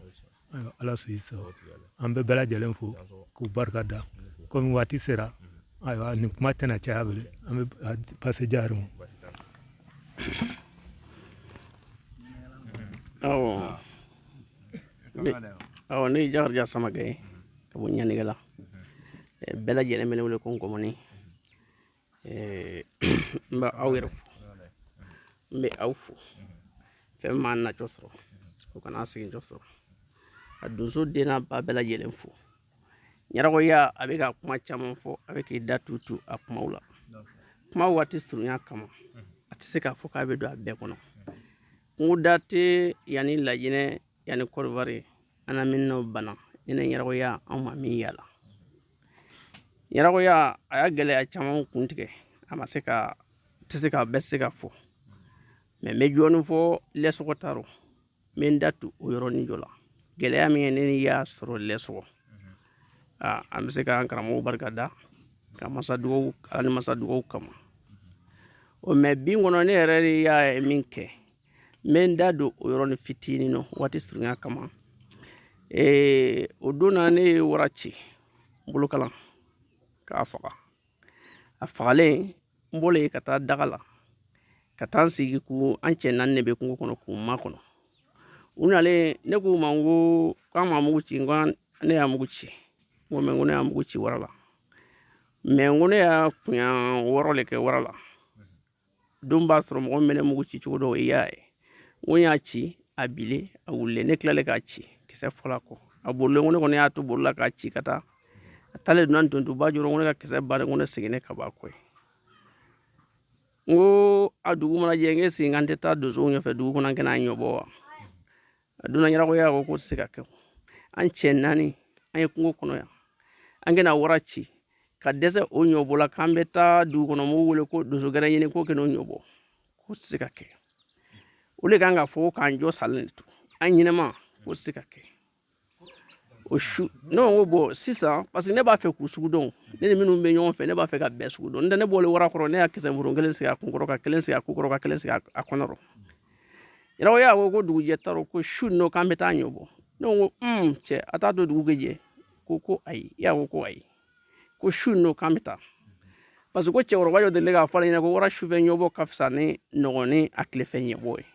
ala sɔn i sago an bɛ bɛɛ lajɛlen fo k'u barika da kɔmi waati sera ayiwa nin kuma tɛna caya bilen an bɛ pase jari ma awɔ ne ye jakarija samakɛ ye ka bɔ ɲanigɛ la eh, bɛɛ lajɛlen bɛ ne wele ko Nkɔmɔni eh, n bɛ aw yɛrɛ fo n bɛ aw fo fɛn min m'an nacɔ sɔrɔ o kana segincɔ sɔrɔ ka donso den n'a ba bɛɛ lajɛlen fo ɲarakɔya a bɛ ka kuma caman fɔ a bɛ k'i da tutu a kumaw la kuma waati surunya kama a tɛ se k'a fɔ k'a bɛ don a bɛɛ kɔnɔ kungoda tɛ yan ni Lajinɛ yan ni Kɔdiwari An bɛ n'o bana ne ni ɲarakɔya an ma min yala ɲarakɔya a y'a gɛlɛya caman kun tigɛ a ma se ka tɛ se ka bɛɛ se ka fɔ mɛ n bɛ jɔɔni fɔ Lɛsɔgɔ ta rɔ n bɛ n da tu o yɔrɔnin jɔ la gɛlɛya min ye ne ni Ya sɔrɔ Lɛsɔgɔ aa an bɛ se k'an karamɔgɔw barika da ka masa ni masa dugawu kama o mɛ bin kɔnɔ ne yɛrɛ de y'a ye min kɛ n bɛ n da don o yɔrɔnin fitinin na waati surunya kama ee o don na ne ye wara ci bolokalan k'a faga a fagalen n bɔlen ka taa daga la ka taa n sigi ko an cɛ naani de bɛ kungo kɔnɔ k'u makɔnɔ u nalen ne k'u ma n ko k'an ma mugu ci n ko ne y'a mugu ci n ko mɛ n ko ne y'a mugu ci wara la mɛ n ko ne y'a kunya wɔɔrɔ le kɛ wara la don b'a sɔrɔ mɔgɔ mɛ ne mugu ci cogo dɔn i y'a ye n ko n y'a ci a bilen a wulilen ne tilalen k'a ci kisɛ fila kɔ a bolilen ko ne kɔni y'a to boli la k'a ci ka taa a taalen donna ntontuba jɔrɔ ko ne ka kisɛ bannen ko ne seginnen ka bɔ a kɔ ye n ko a dugu mana jɛ n k'e sigi an tɛ taa donsow ɲɔfɛ dugu kɔnɔ an kɛn'a ɲɔbɔ wa a donna ɲarakɔya ko k'o tɛ se ka kɛ an cɛ naani an ye kungo kɔnɔ yan an kɛna wara ci ka dɛsɛ o ɲɔbɔ la k'an bɛ taa dugu kɔnɔ mɔgɔw wele ko donso gɛrɛ ɲini k'o kɛnɛ o ɲɔbɔ k'o tɛ se ka kɛ o de kan k'a fɔ k'an jɔ salen de to an ɲɛnɛma k'o tɛ se ka kɛ o su ne ko bon sisan parce que ne b'a fɛ k'u sugu dɔn ne ni minnu bɛ ɲɔgɔn fɛ ne b'a fɛ ka bɛɛ sugu dɔn n tɛ ne bɔlen wara kɔrɔ ne y'a kisɛ furu kelen sigi a kun kɔrɔ ka kelen sigi a kun kɔrɔ ka kelen sigi a kɔnɔ ɲarakɔya ko ko dugujɛ t'a rɔ ko su nɔ k'an bɛ taa ɲɔbɔ ne ko un cɛ a t'a to dugu bɛ jɛ ko ko ayi Ya ko ko ayi ko su nɔ k'an bɛ taa parce que ko cɛkɔrɔba dɔ delila k'a fɔ ale ɲɛna ko wara sufɛ ɲɔbɔ ka fisa ni nɔgɔn ni a tilefɛ ɲɔbɔ ye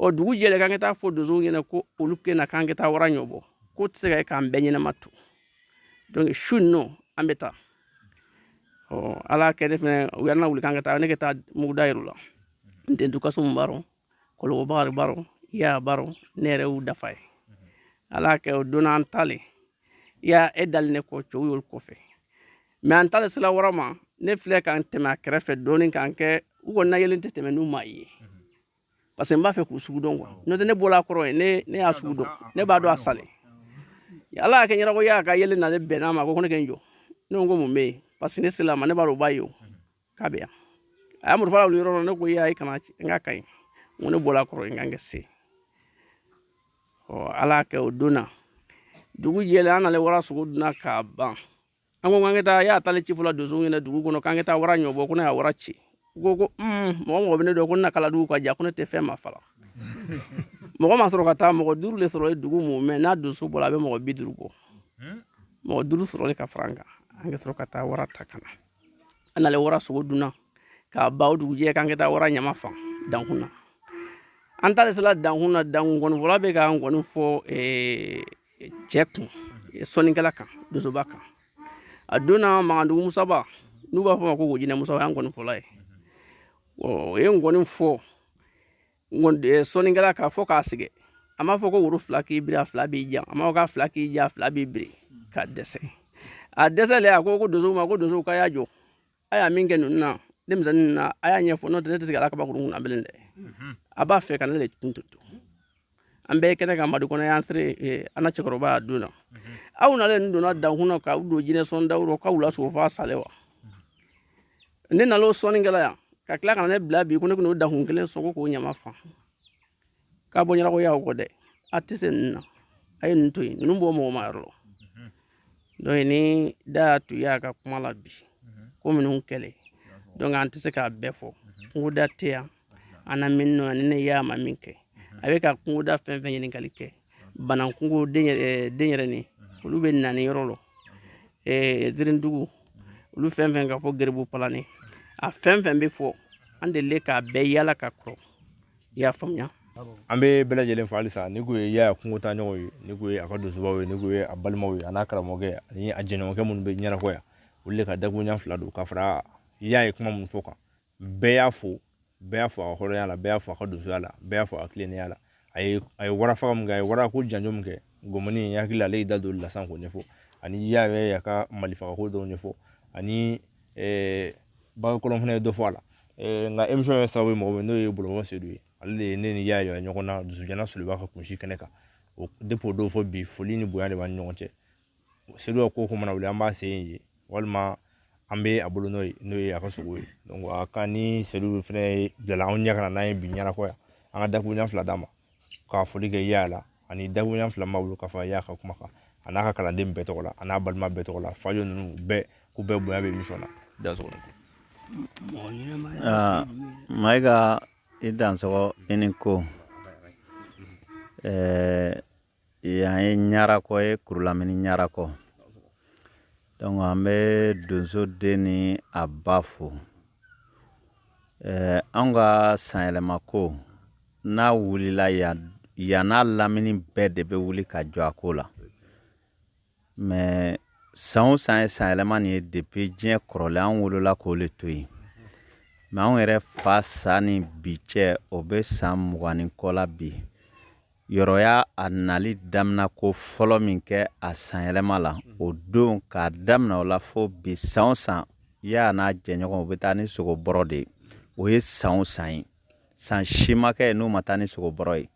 ɔ dugu jɛlen k'an ka taa fɔ donsow ɲɛna ko olu kɛna k'an ka taa wara ɲɔbɔ k'o tɛ se ka kɛ k'an bɛɛ ɲɛnama to donc su nɔ an bɛ taa ɔ ala kɛ ne fɛnɛ u y'an lawuli k'an ka taa ne ka taa muguda yir'u la Ntentu Kasumu b'a rɔ Kɔlɔbɔ Bakari b'a rɔ Ya b'a rɔ ne yɛrɛ y'u dafa ye ala kɛ o donna an taalen ya e dali ne kɔ cɛw y'olu kɔfɛ mɛ an taalen sila wara ma ne filɛ k'an tɛmɛ a kɛrɛfɛ dɔɔnin k'an kɛ u kɔni na yelen tɛ tɛmɛ n'u m'a ye parce que n b'a fɛ k'u sugu dɔn quoi n'o tɛ ne bɔla a kɔrɔ ye ne ne y'a sugu dɔn ne b'a dɔn a salen ala y'a kɛ ɲɛnakɔ yaya ka yeelen na ne bɛnna a ma ko ne ka n jɔ ne ko ko mun bɛ yen parce que ne sela ma ne b'a dɔn o b'a ye o k'a bɛ yan a y'a murufa wuli yɔrɔ la ne ko yaya i kana n ka kaɲi n ko ne bɔla a kɔrɔ n ka n kɛ se ɔ ala y'a kɛ o don na dugu jɛlen an nalen wara sogo dunna k'a ban an ko k'an ka taa yaya taale ci fɔ la donsow ɲɛna dugu kɔnɔ k'an ka taa wara ɲɔbɔ ko ne y'a wara ci u ko ko mɔgɔ mɔgɔ bɛ ne dɔn ko ne na kala dugu ka ja ko ne tɛ fɛn ma fala mɔgɔ ma sɔrɔ ka taa mɔgɔ duuru de sɔrɔ dugu mumɛ n'a donso bɔra a bɛ mɔgɔ bi duuru bɔ mɔgɔ duuru sɔrɔlen ka fara an kan an ka sɔrɔ ka taa wara ta ka na an nalen wara sogo dunna k'a ban o dugujɛ k'an ka taa wara ɲama fan dankun na an taalen sela dankun na dankun nkɔnifɔla bɛ ka nkɔni fɔ cɛ kun sɔnnikɛla kan donsoba kan a donna magandugu musaba n'u b'a fɔ ma kungojinɛ musaba y'an nkɔnifɔla ye o ye nkɔni fɔ sɔnnikɛla kan fo ka sɛgɛn a m'a fɔ ko woro fila k'i biri a fila b'i jan a m'a fɔ k'a fila k'i jan a fila b'i biri ka dɛsɛ a dɛsɛlen a ko ko donsow ma ko donsow k'a y'a jɔ a y'a min kɛ ninnu na denmisɛnnin ninnu na a y'a ɲɛfɔ n'o tɛ ne tɛ se k'a la kabakurun kunna bilen dɛ mhm. a b'a fɛ ka ne de tun to an bɛɛ kɛnɛ kan madu kɔnɛ y'an sere eh, an na cɛkɔrɔba y'a don na mhm. aw nalen nin donna dankun na k'aw don jinɛ sɔn dawuro k'aw la sogo f'a sale wa mhm. ne nal'o sɔnni kɛ la yan ka tila ka na ne bila bi ko ne ka n'o dankun kelen sɔn ko k'o ɲama fa k'a bɔ ɲɛnakɔ yaya kɔ dɛ a tɛ se ninnu na a ye ninnu to yen ninnu bɔ mɔgɔ ma yɔrɔ la donc ni da y'a to yaya ka kuma la bi ko minnu kɛlen donc an tɛ se k'a bɛɛ fɔ kungoda tɛ yan an na min nɔ ni ne y'a ma min kɛ a bɛ ka kungoda fɛn fɛn ɲininkali kɛ banankungo denyɛrɛni olu bɛ nani yɔrɔ la zirindugu olu fɛn fɛn ka fɔ geribu palani a fɛn fɛn bɛ fɔ an delile k'a bɛɛ yaala ka kɔrɔ i y'a faamuya an bɛ bɛɛ lajɛlen fo halisa ni ko ye yaya kungotaaɲɔgɔn ye ni ko ye a ka donsobaw ye ni ko ye a balimaw ye a n'a karamɔgɔkɛ ani a jɛɲɔgɔnkɛ minnu bɛ ɲɛnakɔ yan olu de ka dakuruɲɛ fila don ka fara yaya ye kuma minnu fɔ kan bɛɛ y'a fɔ bɛɛ y'a fɔ a ka hɔrɔnya la bɛɛ y'a fɔ a ka donsoya la bɛɛ y'a fɔ a ka tilennenya la a ye a ye wara faga min kɛ a ye wara ko janjo min kɛ gɔmɔni in hakili ale y'i da don lasan k'o ɲɛfɔ ani yaya ye a ka malifagako dɔw ɲɛfɔ ani bagakɔlɔn fana ye dɔ fɔ a la nka émission ye sababu ye mɔgɔ min n'o ye bɔlɔnfɔ seydou ye ale de ye ne ni yaya yira ɲɔgɔn na dusukolo suliba ka kunsi kɛnɛ kan depuis o don fo bi foli ni bonya de b'an ni ɲɔgɔn cɛ seydou ka ko mana wuli an b'a se yen walima an bɛ a bolo n'o ye n'o ye a ka sogo ye a ka ni seydou fɛnɛ bilala anw ɲɛ ka na n'an ye bi ɲɛnakɔ yan an ka dakuruɲɛ fila d'a ma ka foli kɛ yaa la ani dakuruɲa fila ma wolo k'a fɔ yaa ka kuma kan a n'a ka kalanden bɛɛ tɔgɔ la a n'a balima bɛɛ tɔgɔ la fajo ninnu bɛɛ k'u bɛɛ bonya bɛ emisɔn na donso mayiga i dansɔgɔ i ni ko ɛɛ yan ye ɲarakɔ ye kurulamini ɲarakɔ donc an bɛ donso den ni a ba fo ɛɛ an ka sanyɛlɛma ko n'a wulila yan n'a lamini bɛɛ de bɛ wuli ka jɔ a ko la mɛ san san ye sanyɛlɛma nin ye depi diɲɛ kɔrɔlen an wolola k'o le to yen mɛ anw yɛrɛ fa sa ni bi cɛ o bɛ san mugan ni kɔ la bi yɔrɔ yaa nali damina ko fɔlɔ min kɛ a sanyɛlɛma la o don k'a damina o la fo bi san san yaa n'a jɛɲɔgɔn u bɛ taa ni sogo bɔrɔ de ye o ye san san ye san si ma kɛ n'u ma taa ni sogo bɔrɔ ye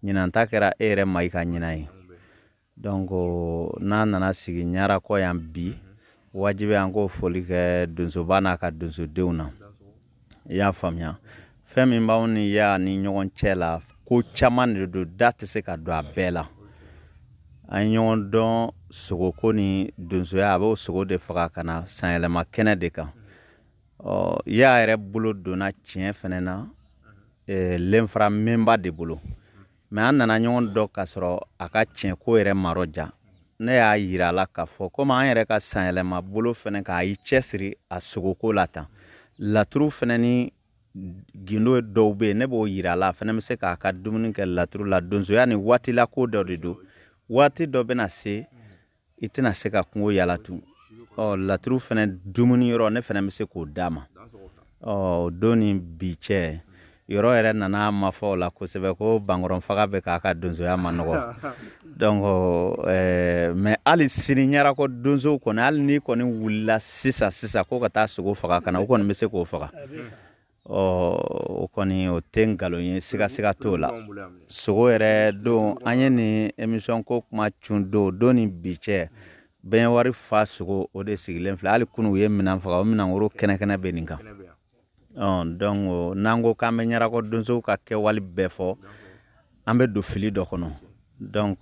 ɲinan ta kɛra e yɛrɛ ma i ka ɲinan ye donc n'a nana sigi ɲarakɔ yan bi wajibi an k'o foli kɛ donsoba n'a ka donsodenw na i y'a faamuya fɛn min b'anw ni yaa ni ɲɔgɔn cɛ la ko caman de don da tɛ se ka don a bɛɛ la an ye ɲɔgɔn dɔn sogoko ni donsoya a b'o sogo de faga ka na sanyɛlɛma kɛnɛ de kan ɔ yaa yɛrɛ bolo donna tiɲɛ fɛnɛ na lenfara mɛnba de bolo mɛ an nana ɲɔgɔn dɔn k'a sɔrɔ a ka tiɲɛ ko yɛrɛ ma rɔja ne y'a yira a la k'a fɔ komi an yɛrɛ ka sanyɛlɛma bolo fɛnɛ k'a y'i cɛsiri a sogoko la tan laturu fɛnɛ ni gindo dɔw be yen ne b'o yira a la a fɛnɛ be se k'a ka dumuni kɛ laturu la donsoya ni waati la ko dɔ de don waati dɔ bena se i tɛna se ka kungo yala tun ɔ laturu fɛnɛ dumuni yɔrɔ ne fɛnɛ bɛ se k'o d'a ma o don ni bi cɛ yɔrɔ yɛrɛ nana ma fɔ o la kosɛbɛ ko bankɔrɔn faga bɛ k'a ka donsoya ma nɔgɔ donc mɛ hali sini ɲarakɔ donsow kɔni hali n'i kɔni wulila sisan sisan ko ka taa sogo faga ka na o kɔni bɛ se k'o faga Ɔ o kɔni o tɛ nkalon ye sigasiga t'o la sogo yɛrɛ don an ye nin emisɔn ko kuma cun don don ni bi cɛ bɛn wari fa sogo o de sigilen filɛ hali kunu u ye minan faga o minan woro kɛnɛkɛnɛ bɛ nin kan donc n'an ko k'an bɛ ɲarakɔ donsow ka kɛwale bɛɛ fɔ an bɛ don fili dɔ kɔnɔ donc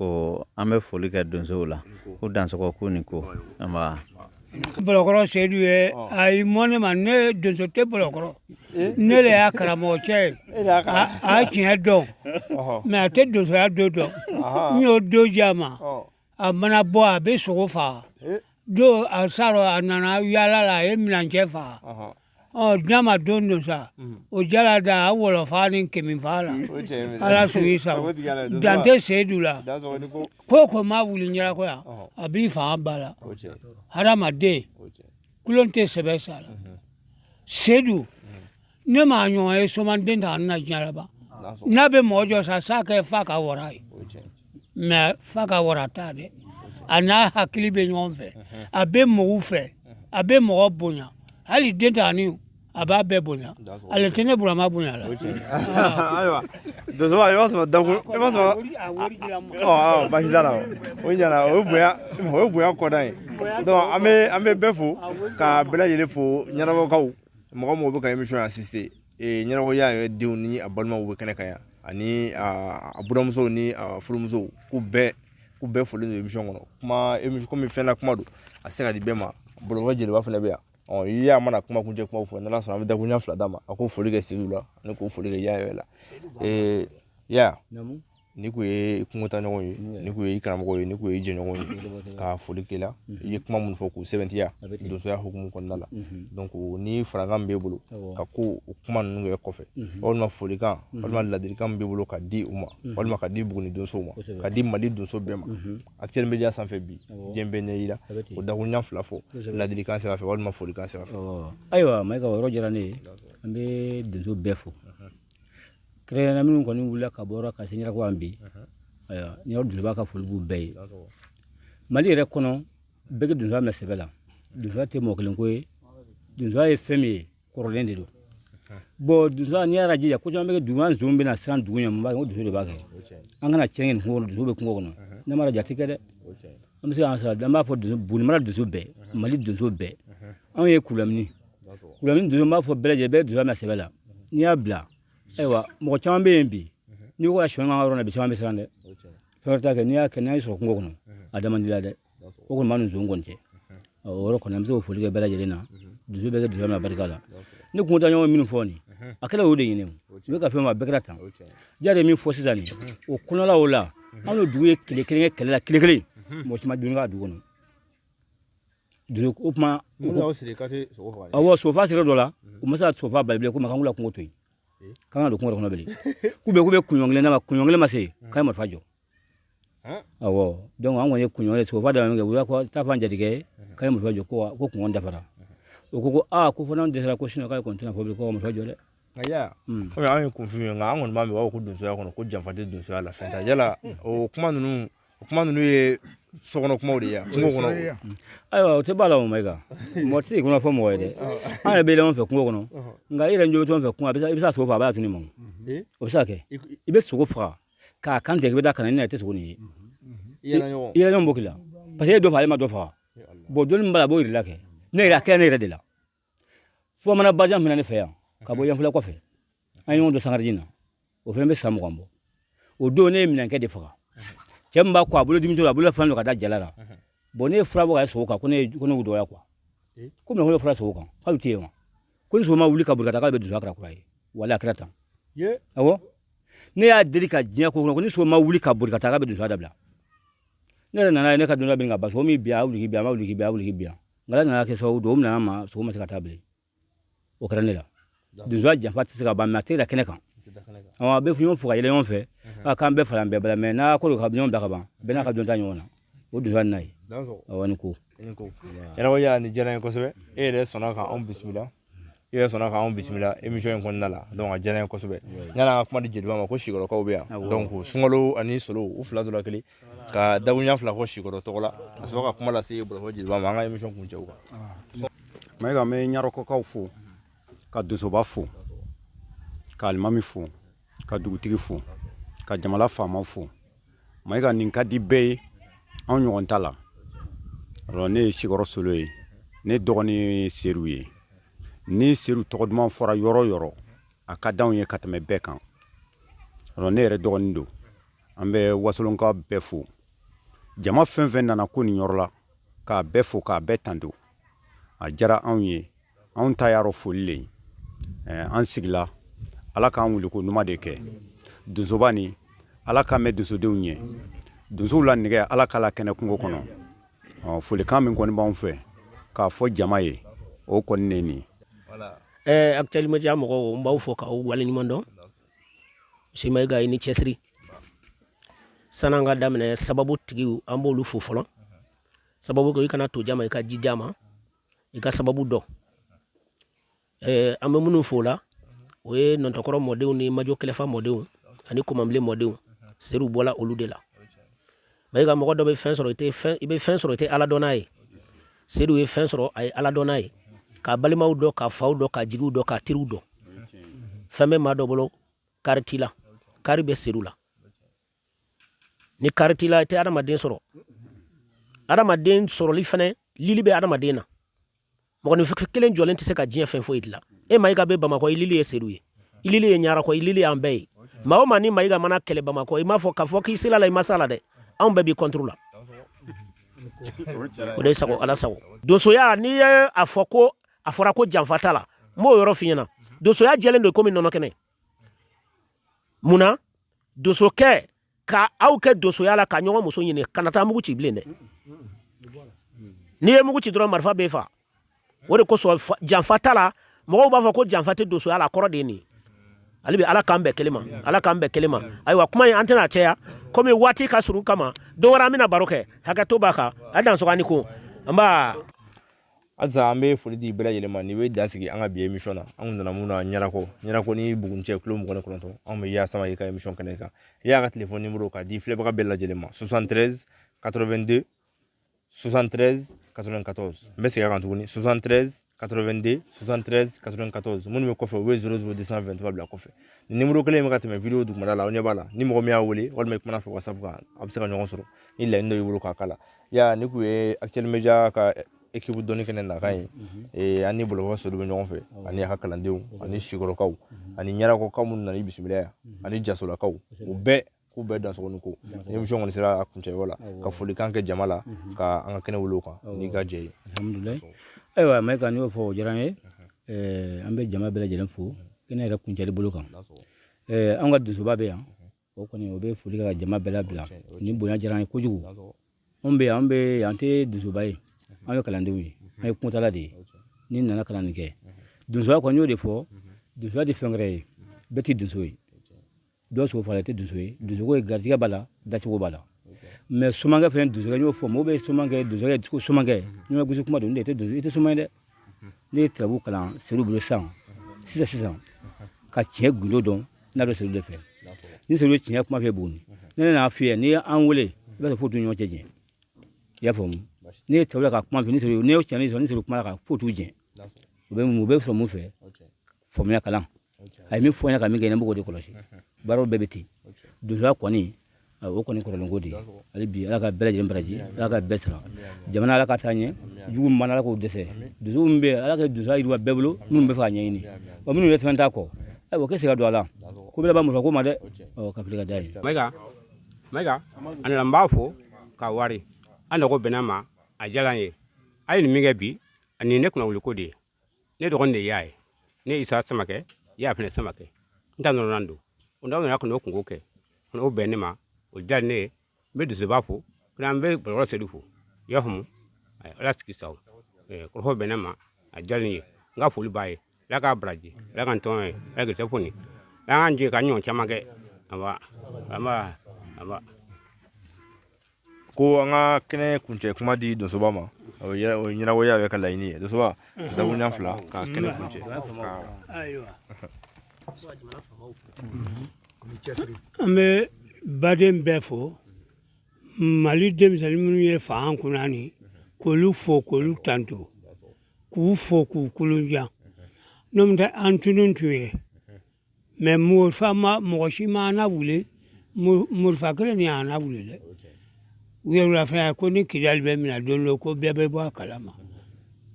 an bɛ foli kɛ donsow la k'u dansɔgɔ k'u ni ko bɔlɔkɔrɔ sedu ye a ye mɔn ne ma ne donso tɛ bɔlɔkɔrɔ ne le y'a karamɔgɔ cɛ ye a tiɲɛ dɔn mɛ a tɛ donsoya dɔn donc n y'o dɔ di a ma a mana bɔ a bɛ sogo faga don a s'a rɔ a nana yaala la a ye minancɛ faga ɔ n'a ma don don sa o jala da a wɔlɔfa ni kamifa la ala sɔn i sa dante seyidu la ko ko maa wuli ɲarakɔ yan a b'i fanga ba la hadamaden kulon tɛ sɛbɛ sa la seyidu ne m'a ɲɔgɔn ye somanden ta na diɲɛ la ban n'a bɛ mɔgɔ jɔ sa sa kɛ fa ka wara ye mais fa ka wara t'a dɛ a n'a hakili bɛ ɲɔgɔn fɛ a bɛ mɔgɔw fɛ a bɛ mɔgɔ bonya hali den ta ani a b'a bɛɛ bonya ale tɛ ne burama bonya la ayiwa donso i b'a sɔrɔ dakun i b'a sɔrɔ ɔ basi t'a la o ɲana o ye bonya o ye bonya kɔda ye donc an bɛ an bɛ bɛɛ fo ka bɛɛ lajɛlen fo ɲarakɔkaw mɔgɔ mɔgɔ bɛ ka emisiyɔn assister ɲarakɔ yaya yɛrɛ denw ni a balimaw bɛ kɛnɛ kan yan ani a buramusow ni a furumusow k'u bɛɛ k'u bɛɛ foli don emisiyɔn kɔnɔ kuma emi komi fɛn na kuma don a se ka di bɛɛ ma bɔlɔlɔ jeliba fana bɛ yan ɔ yaya mana kuma kuncɛ kumaw fɔ n'ala sɔnna an bɛ dakuruɲɛ fila d'a ma a k'o foli kɛ seyidu la ani k'o foli kɛ yaya yɛrɛ la yaya Ni kun ye kungotaɲɔgɔn ye ni kun ye i karamɔgɔ ye ni kun ye jɛɲɔgɔn ye ka foli k'i la i ye kuma minnu fɔ k'u sɛbɛntiya donsoya hukumu kɔnɔna la ni farakan min b'e bolo ka ko o kuma ninnu kɛ kɔfɛ walima folikan walima ladilikan min b'e bolo ka di u ma walima ka di Buguni donsow ma ka di Mali donso bɛɛ ma actuel media sanfɛ bi diɲɛ bɛɛ ɲɛ y'i la o dakuruɲɛ fila fɔ ladilikan sira fɛ walima folikan sira fɛ ayiwa Mayiga o yɔrɔ diyara ne ye an bɛ donso bɛɛ fo Kɛrɛnkɛrɛnnenya minnu kɔni wulila ka bɔ ka se ɲarakɔ yan bi ayiwa ni yɔrɔ donsoba ka foli b'u bɛɛ ye mali yɛrɛ kɔnɔ bɛɛ ka donsoya minɛ sɛbɛ la donsoya tɛ mɔgɔ kelen ko ye donsoya ye fɛn min ye kɔrɔlen de don bɔn donsoya n'i y'a jija ko caman bɛ kɛ dugu an zon bɛna siran dugu ɲɛ mun b'a kɛ ko donso de b'a kɛ an kana cɛn nin kungo kɔnɔ donso bɛ kungo kɔnɔ ne m'a jate kɛ dɛ an bɛ se k'an sara an b'a fɔ donso buguni mara donso bɛɛ mali donso bɛɛ anw ye kulamini kulamini donso b'a fɔ bɛɛ lajɛlen bɛɛ donsoya minɛ sɛbɛ la n'i y'a bila ayiwa mɔgɔ caman bɛ yen bi n'i ko ka sɔn ka yɔrɔ la bi caman bɛ siran dɛ fɛn wɛrɛ t'a kɛ n'i y'a kɛ n'a y'i sɔrɔ kungo kɔnɔ a da man d'i la dɛ o kɔni b'a ni zon kɔni cɛ o yɔrɔ kɔni an bɛ se k'o foli kɛ bɛɛ lajɛlen na donso bɛɛ ka donsoya minɛ barika la ne kungotaaɲɔgɔn minnu fɔ nin a kɛra o de ɲini u bɛ ka fɛn ma bɛɛ kɛra tan ja de min fɔ sisan nin o kɔnɔla o la anw ye dugu ye tile kelen kɛ kɛlɛ la tile kelen mɔgɔ caman dun ka dugu kɔnɔ dugu o kuma awɔ sogofa sira dɔ la u ma se ka sogofa bali bilen ko ma kan ka kungo to yen k'an ka don kungo kɔnɔ bilen k'u bɛ k'u bɛ kunɲɔgɔn kelen na kunɲɔgɔn kelen ma se k'a ye marifa jɔ ɔwɔ dɔnku an kɔni ye kunɲɔgɔn ye sogofa dama kɛ u la ko taa fɔ an jatigi ye k'a ye marifa jɔ ko ko kunɲɔgɔn dafara o ko ko aa ko fo n'an dɛsɛra ko sinɔ k'ale kɔni tɛna fɔ bilen ko marifa jɔ dɛ kɔmi an ye kunfin ye nka an kɔni b'a mɛn u b'a fɔ ko donsoya kɔnɔ ko janfa tɛ donsoya la fɛn t'a yala o kuma ninnu o kuma ninnu ye sokɔnɔ kumaw de ye kungo kɔnɔ ayiwa o tɛ b'a la o mayiga mɔgɔ tɛ kɔnɔ fɔ mɔgɔ ye dɛ an yɛrɛ bɛ yɛlɛma fɛ kungo kɔnɔ nka i yɛrɛ ɲɛ bɛ fɛn fɛ kungo i bɛ se ka sogo faga a b'a tunun i ma o bɛ se ka kɛ i bɛ sogo faga k'a kan tigɛ i bɛ taa ka na i tɛ sogo nin ye i yɛrɛ ɲɔgɔn b'o k'i la paseke e dɔ faga ale ma dɔ faga bɔn dɔnni min b'a la a b'o yir'i la kɛ ne yɛrɛ a kɛra ne yɛrɛ de la fo mana bajan min na ne fɛ yan ka bɔ yanfɛla kɔfɛ an ye ɲɔgɔn dɔn sangareji na o fana bɛ san mugan bɔ o don ne ye minɛnkɛ de faga cɛ min b'a ko a bolo dimi a bolo fɛn dɔ ka da jala la bɔn ne ye fura bɔ ka sogo kan ko ne ko ne dɔgɔya kuwa ko minɛ ko ne fura sogo kan k'a bɛ to yen wa ko ni sogo ma wuli ka boli ka taa k'ale bɛ donsoya kɛra kura ye wali a kɛra tan awɔ ne y'a deli ka diɲɛ ko kɔnɔ ko ni sogo ma wuli ka boli ka taa k'a bɛ donsoya dabila ne yɛrɛ nana ye ne ka dunan bɛ ka ba so min bi a wuliki bi a ma wuliki bi a wuliki bi a ngala nana kɛ sababu don o minɛna ma sogo ma se ka taa bilen o kɛra ne la donsoya janfa tɛ se ka ban mɛ a tɛ da kɛnɛ kan a bɛ ɲɔgɔn fo ka yɛlɛ ɲɔgɔn fɛ k'an bɛɛ fara an bɛɛ b'a la mɛ n'a ko ka ɲɔgɔn bila ka ban bɛɛ n'a ka dɔnta ɲɔgɔn na o de n'a ye awa ni ko yɛrɛbɔ y'a ni diyara n ye kosɛbɛ e yɛrɛ sɔnna ka anw bisimila i yɛrɛ sɔnna k'anw bisimila emission in kɔnɔna la donc a diyara n ye kosɛbɛ yani an ka kuma di jeliba ma ko sikɔrɔkaw bɛ yan donc sunkalo ani solo u fila dɔ la kelen ka dakuruɲɛ fila fɔ sikɔrɔ tɔgɔ la ka sɔrɔ ka kuma lase bɔlɔfɔ jeliba ma an ka emission kuncɛ o kan mayiga n bɛ ɲarɔkɔkaw fo ka donsoba fo ka alimami fo ka dugutigi fo ka jamana faama fo mayiga nin ka di bɛɛ ye anw ɲɔgɔn ta la alors ne ye sikɔrɔ solo ye ne dɔgɔnin seru ye ni seru tɔgɔ duman fɔra yɔrɔ yɔrɔ a ka d'anw ye ka tɛmɛ bɛɛ kan alors ne yɛrɛ dɔgɔnin don an bɛ wasolonka bɛɛ fo jama fɛn fɛn nana ko nin yɔrɔ la k'a bɛɛ fo k'a bɛɛ tanto a diyara anw ye anw ta yan rɔ foli le an sigila ala k'an wuli ko ɲuman de kɛ donsoba ni ala k'an mɛn donsodenw ɲɛ donsow la nɛgɛ ala k'a la kɛnɛ kungo kɔnɔ folikan min kɔni b'anw fɛ k'a fɔ jama ye o kɔni ne nin ɛɛ actuel media mɔgɔw n b'aw fo k'aw waleɲuman dɔn monsieur mayiga i ni cɛsiri san'an ka daminɛ sababu tigiw an b'olu fo fɔlɔ sababu ko i kana to jama i ka ji d'a ma i ka sababu dɔn eh, an bɛ minnu fo o la o ye nɔntɔkɔrɔ mɔdenw ni majo kɛlɛfa mɔdenw ani kɔmanbilen mɔdenw seru bɔla olu de la mayiga mɔgɔ dɔ bɛ fɛn sɔrɔ i bɛ fɛn sɔrɔ i tɛ ala dɔn n'a ye seru ye fɛn sɔrɔ a ye ala dɔn n'a ye k'a balimaw dɔn k'a faw dɔn k'a jigiw dɔn k'a teriw dɔn fɛn bɛ maa dɔ bolo kari t'i la kari bɛ seru la ni kari t'i la i tɛ adamaden sɔrɔ adamaden sɔrɔli fana lili bɛ adamaden na mɔgɔninfin kelen jɔlen tɛ se ka diɲɛ fɛn foyi dilan e mayiga bɛ bamakɔ i lili ye seru ye i lili ye ɲarakɔ i lili y'an bɛɛ ye maa o maa ni mayiga mana kɛlɛ bamakɔ i m'a fɔ k'a fɔ k'i sel'a la i ma s'a la dɛ anw bɛɛ b'i kɔnturu la o de sago ala sago donsoya n'i ye a fɔ ko a fɔra ko janfa t'a la n b'o yɔrɔ f'i ɲɛna donsoya jɛlen don komi nɔnɔ kɛnɛ mun na donsokɛ ka aw kɛ donsoya la ka ɲɔgɔn muso ɲini kana taa mugu ci bilen dɛ n'i ye mugu ci dɔrɔn marifa b'e fa o de kosɔn janfa t'a la mɔgɔw b'a fɔ ko janfa tɛ donsoya la a kɔrɔ de ye nin ye ale bɛ ala k'an bɛn kelen ma ala k'an bɛn kelen ma ayiwa kuma in an tɛna caya komi waati ka surun kama don wɛrɛ an bɛna baro kɛ hakɛ to b'a kan a dansɔgɔ ni ko nba halisa an bɛ foli di bɛɛ lajɛlen ma nin bɛ dan sigi an ka bi emisɔn na an kun nana mun na ɲarakɔ ɲarakɔ ni buguni cɛ kilo mugan ni kɔnɔntɔn anw bɛ yaasa i ka emisɔn kɛnɛ kan i y'a ka telefɔni nimoro k'a di filɛbaga bɛɛ lajɛlen ma 73 82 73 94 n bɛ segin a kan tuguni 73 82 73 94 minnu bɛ kɔfɛ u bɛ 00 223 bila kɔfɛ nin nimoro kelen in bɛ ka tɛmɛ video dugumana la aw ɲɛ b'a la ni mɔgɔ min y'a wele walima i kumana a fɛ whatsapp kan a bɛ se ka ɲɔgɔn sɔrɔ ni laɲini dɔ y'i bolo k'a k'a la ya nin kun ye actuel media ka ekipu dɔnni kɛnɛ nakan ye ee an ni bolokɔrɔ seru bɛ ɲɔgɔn fɛ ani a ka kalandenw ani sikɔrɔkaw ani ɲarakɔkaw minnu nana i bisimila yan ani jasolakaw u bɛɛ k'u bɛɛ dansɔgɔ ni ko ni émission kɔni sera a kuncɛyɔrɔ la ka folikan kɛ jama la ka an ka kɛnɛ wuli o kan n'i ka jɛn ye alhamdulilayi ayiwa mayiga n'i y'o fɔ o diyara n ye an bɛ jama bɛɛ lajɛlen fo kɛnɛ yɛrɛ kuncɛli bolo kan an ka donsoba bɛ yan o kɔni o bɛ foli kɛ ka jama bɛɛ labila ni bonya diyara an ye kojugu anw bɛ yan an bɛ yan an tɛ donsoba ye an ye kalandenw ye an ye kuntala de ye ni nana kalan nin kɛ donsoya kɔni y'o de fɔ donsoya tɛ fɛn wɛrɛ ye bɛɛ tɛ donso ye dɔ sogo faga tɛ donso ye donsoko ye garijɛgɛ b'a la dacogo b'a la mɛ somankɛ fɛnɛ donsokɛ n y'o fɔ mɔgɔw bɛ somankɛ donsokɛ ko somankɛ n'i ma gosi kuma don ne tɛ donso i tɛ soma ye dɛ ne ye turabu kalan seru bolo sisan sisan sisan ka tiɲɛ gundo dɔn n'a bɛ seru de fɛ ni seru bɛ tiɲɛ kuma fɛ buguni ne nan'a f'i ye n'i ye an wele i b'a sɔrɔ foyi t'u ni ɲɔgɔn cɛ jɛ i y'a faamu ne ye turabu ka kuma fɛ ni seru ne ye tiɲɛ sɔrɔ ni seru kuma la ka foyi t'u jɛ u bɛ mun u bɛ sɔrɔ mun fɛ faamuya kalan a ye min fɔ n ɲɛna ka min kɛ ne b'o de kɔlɔsi baaraw bɛɛ bɛ ten donsoya kɔni o kɔni kɔrɔlenko de ye hali bi ala ka bɛɛ lajɛlen baraji ala ka bɛɛ sara jamana ala ka taa ɲɛ jugu min b'a la ala k'o dɛsɛ donso min bɛ ala ka donsoya yiriwa bɛɛ bolo minnu b'a fɛ k'a ɲɛɲini wa minnu bɛ fɛn t'a kɔ ayiwa k'e se ka don a la ko bɛɛ b'a muso ko ma dɛ ɔ ka fili ka da ye mayiga mayiga a nana n b'a fo ka wari an nɔgɔ bɛnna ma a diyara n ye a ye nin min kɛ bi ani ne kunnawoloko de ye ne dɔgɔnin de y'a ye ne isa samakɛ i y'a fana samakɛ n ta nɔnɔnan don o n'aw nana ka n'o kungo kɛ ka n'o bɛn ne ma o diya ne ye n bɛ donsoba fo fana n bɛ bɔlɔlɔ sedu fo i y'a faamu Ayi, ala sago i sago Eh, kɔrɔfɔ bɛn ne ma a diya ne ye n ka foli b'a ye ala k'a baraji ala ka n tɔn ye ala k'i telefoni ala k'an jɛ k'a ɲɔgɔn caman kɛ anba anba anba ko an ka kɛnɛ kuncɛ kuma di donsoba ma o ye o ye ɲɛnabɔ y'a yɛrɛ ka laɲini ye donsoba dakuruɲa fila ka kɛnɛ kuncɛ ka ayiwa an bɛ baden bɛɛ fo mali denmisɛnnin minnu ye fanga kunna ni k'olu fo k'olu tanto k'u fo k'u kolonjan n'o tɛ an tunun tun ye mɛ mɔgɔ si ma an wuli morifa kelen ni y'an wuli dɛ u yɛrɛ fɛn ko ni kidali bɛ minɛ don dɔ ko bɛɛ bɛ bɔ a kala ma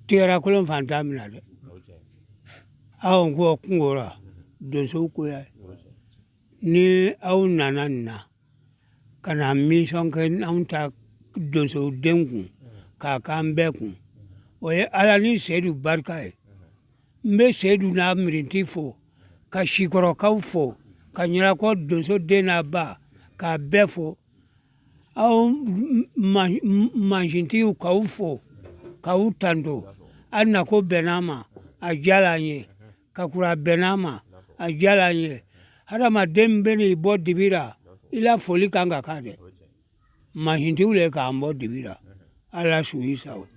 tɛgɛrakolon fana t'a minɛ dɛ aw ko kungo ra donsow ko ya ni aw nana nin na ka na misɔn kɛ anw ta donsow den kun k'a k'an bɛɛ kun o ye ala ni seyidu barika ye n bɛ seyidu n'a mirinti fo ka sikɔrɔkaw fo ka ɲɛnakɔ donso den n'a ba k'a bɛɛ fo aw mansintigiw k'aw fo k'aw tanto a nako bɛnn'an ma a diyala an ye ka kura a bɛnn'an ma a diyala an ye hadamaden bɛ n'i bɔ dibi la i la foli kan ka k'a dɛ mansintigiw le k'an bɔ dibi la ala sago i sago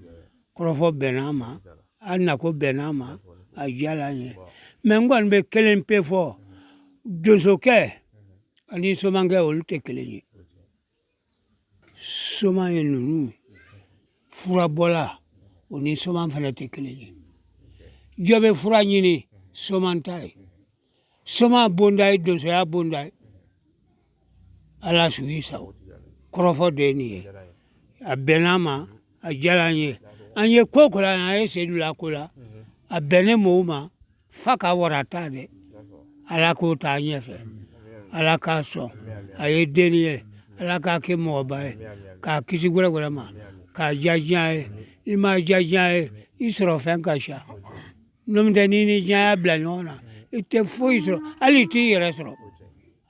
kɔrɔfɔ bɛnna an ma a nako bɛnna an ma a diyala an ye mɛ n kɔni bɛ kelen pe fɔ donsokɛ ani somankɛ olu tɛ kelen ye soman ye ninnu furabɔla o ni soman fana tɛ kelen ye jɔ bɛ fura ɲini soman ta ye soma bonda ye donsoya bonda ye ala sago i sago kɔrɔfɔ de ye nin ye a bɛnn'an ma a diyala an ye an ye ko o ko la an ye sedu la ko la a bɛnnen mɔgɔw ma fa ka wara ta dɛ ala k'o taa ɲɛfɛ ala k'a sɔn a ye denni ye ala k'a kɛ mɔgɔba ye k'a kisi gwɛrɛgwɛrɛ ma k'a diya diɲɛ ye i ma diya diɲɛ ye i sɔrɔfɛn ka ca N'o tɛ n'i ni diɲɛ y'a bila ɲɔgɔn na i tɛ foyi sɔrɔ hali i t'i yɛrɛ sɔrɔ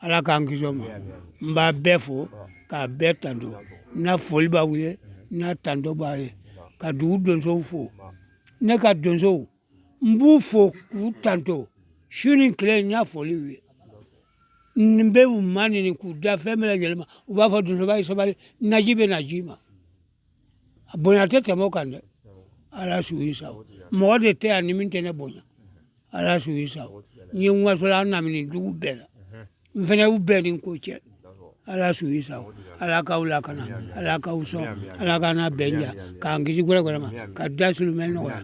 ala k'an kisi o ma n b'a bɛɛ fo k'a bɛɛ tanto n na foli b'aw ye n na tanto b'a ye ka dugu donsow fo ne ka donsow n b'u fo k'u tanto su ni tile n na foli b'u ye n bɛ u maɲini k'u da fɛn bɛɛ lajɛlen ma u b'a fɔ donsoba ye sabali naji bɛ na ji ma a bonya tɛ tɛmɛ o kan dɛ ala sago i sago mɔgɔ de tɛ yan ni min tɛ ne bonya ala sago i sago n ye n wasola an namini dugu bɛɛ la n fana y'u bɛɛ ni ko cɛ ala sago i sago ala k'aw lakana ala k'aw sɔn ala k'an laban ɲa k'an kisi gwɛrɛgwɛrɛ ma ka da sulumɛ nɔgɔya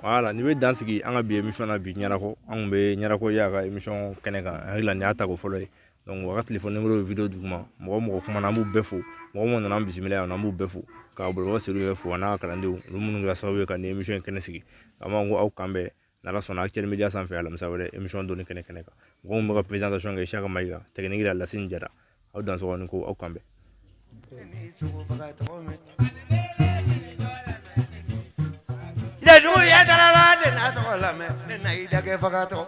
wala nin bɛ dan sigi an ka bi emisɔn na bi ɲɛnako an tun bɛ ɲɛnako y'a ka emisɔn kɛnɛ kan an hakili la nin y'a tako fɔlɔ ye donc u ka telefɔni nimɔrɔ ye wideyo duguma mɔgɔ mɔgɔ kumana an b'u bɛɛ fo mɔgɔ minnu nana an bisimila yan nɔ an b'u bɛɛ fo karamɔgɔ seyidu yɛrɛ fo a n'a ka kalandenw olu minnu kɛra sababu ye ka nin emisɔn in kɛnɛ sigi an b'a fɔ aw k'an bɛn n'ala sɔnna actuel media sanfɛ alamisa wɛrɛ emisɔn dɔnni kɛnɛ kɛnɛ kan mɔgɔ min bɛ ka présentation kɛ isaka mayiga tɛkiniki la lasine jara aw dansɔgɔ ni ko aw k'an bɛn Jeliw ye dalala de na tɔgɔ lamɛn ne na i dagɛ fagatɔ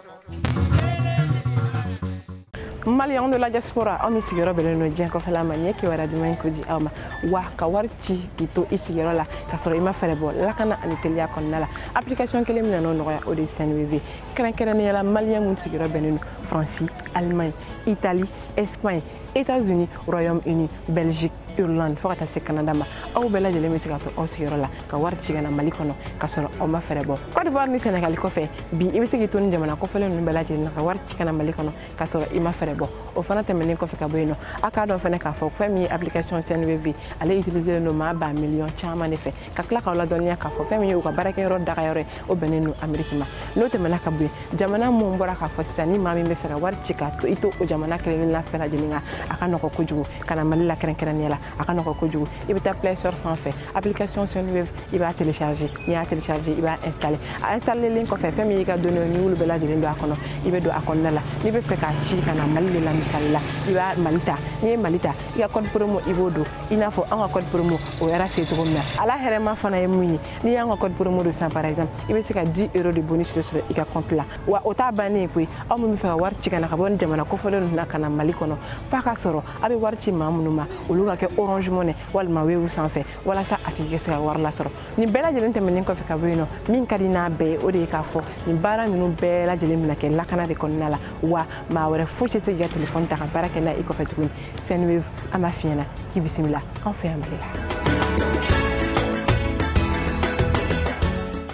maliyɛn de la diaspora aw minnu sigiyɔrɔ bɛnnen don diɲɛ kɔfɛla ma n ye kibaru duman in ko di aw ma wa ka wari ci k'i to i sigiyɔrɔ la k'a sɔrɔ i ma fɛɛrɛ bɔ lakana ani teliya kɔnɔna la application kelen min nan'o nɔgɔya o de ye sendwave kɛrɛnkɛrɛnnenya la maliyɛn minnu sigiyɔrɔ bɛnnen don faransi alemaɲi itali Espagne, États-Unis, Royaume-Uni, Belgique, Irlande fo ka taa se Canada ma aw bɛɛ lajɛlen bɛ se ka to aw sigiyɔrɔ la ka wari ci ka na Mali kɔnɔ ka sɔrɔ aw ma fɛɛrɛ bɔ Côte d'Ivoire ni Sénégal kɔfɛ bi i bɛ se k'i to nin jamana kofɔlen ninnu bɛɛ lajɛlen na ka wari ci ka na Mali kɔnɔ ka sɔrɔ i ma fɛɛrɛ bɔ o fana tɛmɛnen kɔfɛ ka bɔ yen nɔ aw k'a dɔn fana k'a fɔ fɛn min ye application Sendwave ale utiliser len don maa ba miliyɔn caman de fɛ ka tila k'aw ladɔnniya k'a fɔ fɛn min ye u ka baarakɛyɔrɔ dagayɔrɔ ye o bɛnnen don ameriki ma n'o tɛmɛna ka bɔ yen jamana minnu bɔra k'a fɔ sisan ni maa min bɛ fɛ ka wari ci k'a to i to o jamana kelen la fɛn lajɛlen kan a ka nɔgɔ kojugu ka na mali la kɛrɛnkɛrɛnnenya la a ka nɔgɔ kojugu i bɛ taa play store sanfɛ application sendwave i b'a télécharger n'i y'a télécharger i b'a installer a installelen kɔfɛ fɛn min y'i ka données n'i b'olu bɛɛ lajɛlen don a kɔnɔ i bɛ don a kɔnɔna la n'i bɛ fɛ k'a ci ka na mali de la misali la i bɛ mali ta n'i ye mali ta i ka code promo i b'o don i n'a fɔ an ka code promo o yɛrɛ se cogo min na ala hɛrɛma fana ye mun ye n'i y'an ka code promo don sisan par exemple i bɛ se ka 10 euro de bonus de sɔrɔ i ka compte la wa o t'a bannen ye koyi aw min bɛ fɛ ka wari ci ka na ka bɔ nin jamana kofɔlen ninnu na ka na mali kɔnɔ f'a ka sɔrɔ a bɛ wari ci maa minnu ma olu ka kɛ orange money walima wave sanfɛ walasa a tigi ka se ka wari lasɔrɔ nin bɛɛ lajɛlen tɛmɛnen kɔfɛ ka bɔ yen nɔ min ka di n'a bɛɛ ye o de ye k'a fɔ nin baara ninnu bɛɛ lajɛlen bɛna kɛ lakana de kɔnɔna la wa maa wɛrɛ foyi tɛ se k'i ka telefɔni ta ka baara kɛ n'a ye i kɔfɛ tuguni Sendwave an b'a f'i ɲɛna k'i bisimila an fɛ yan Mali la.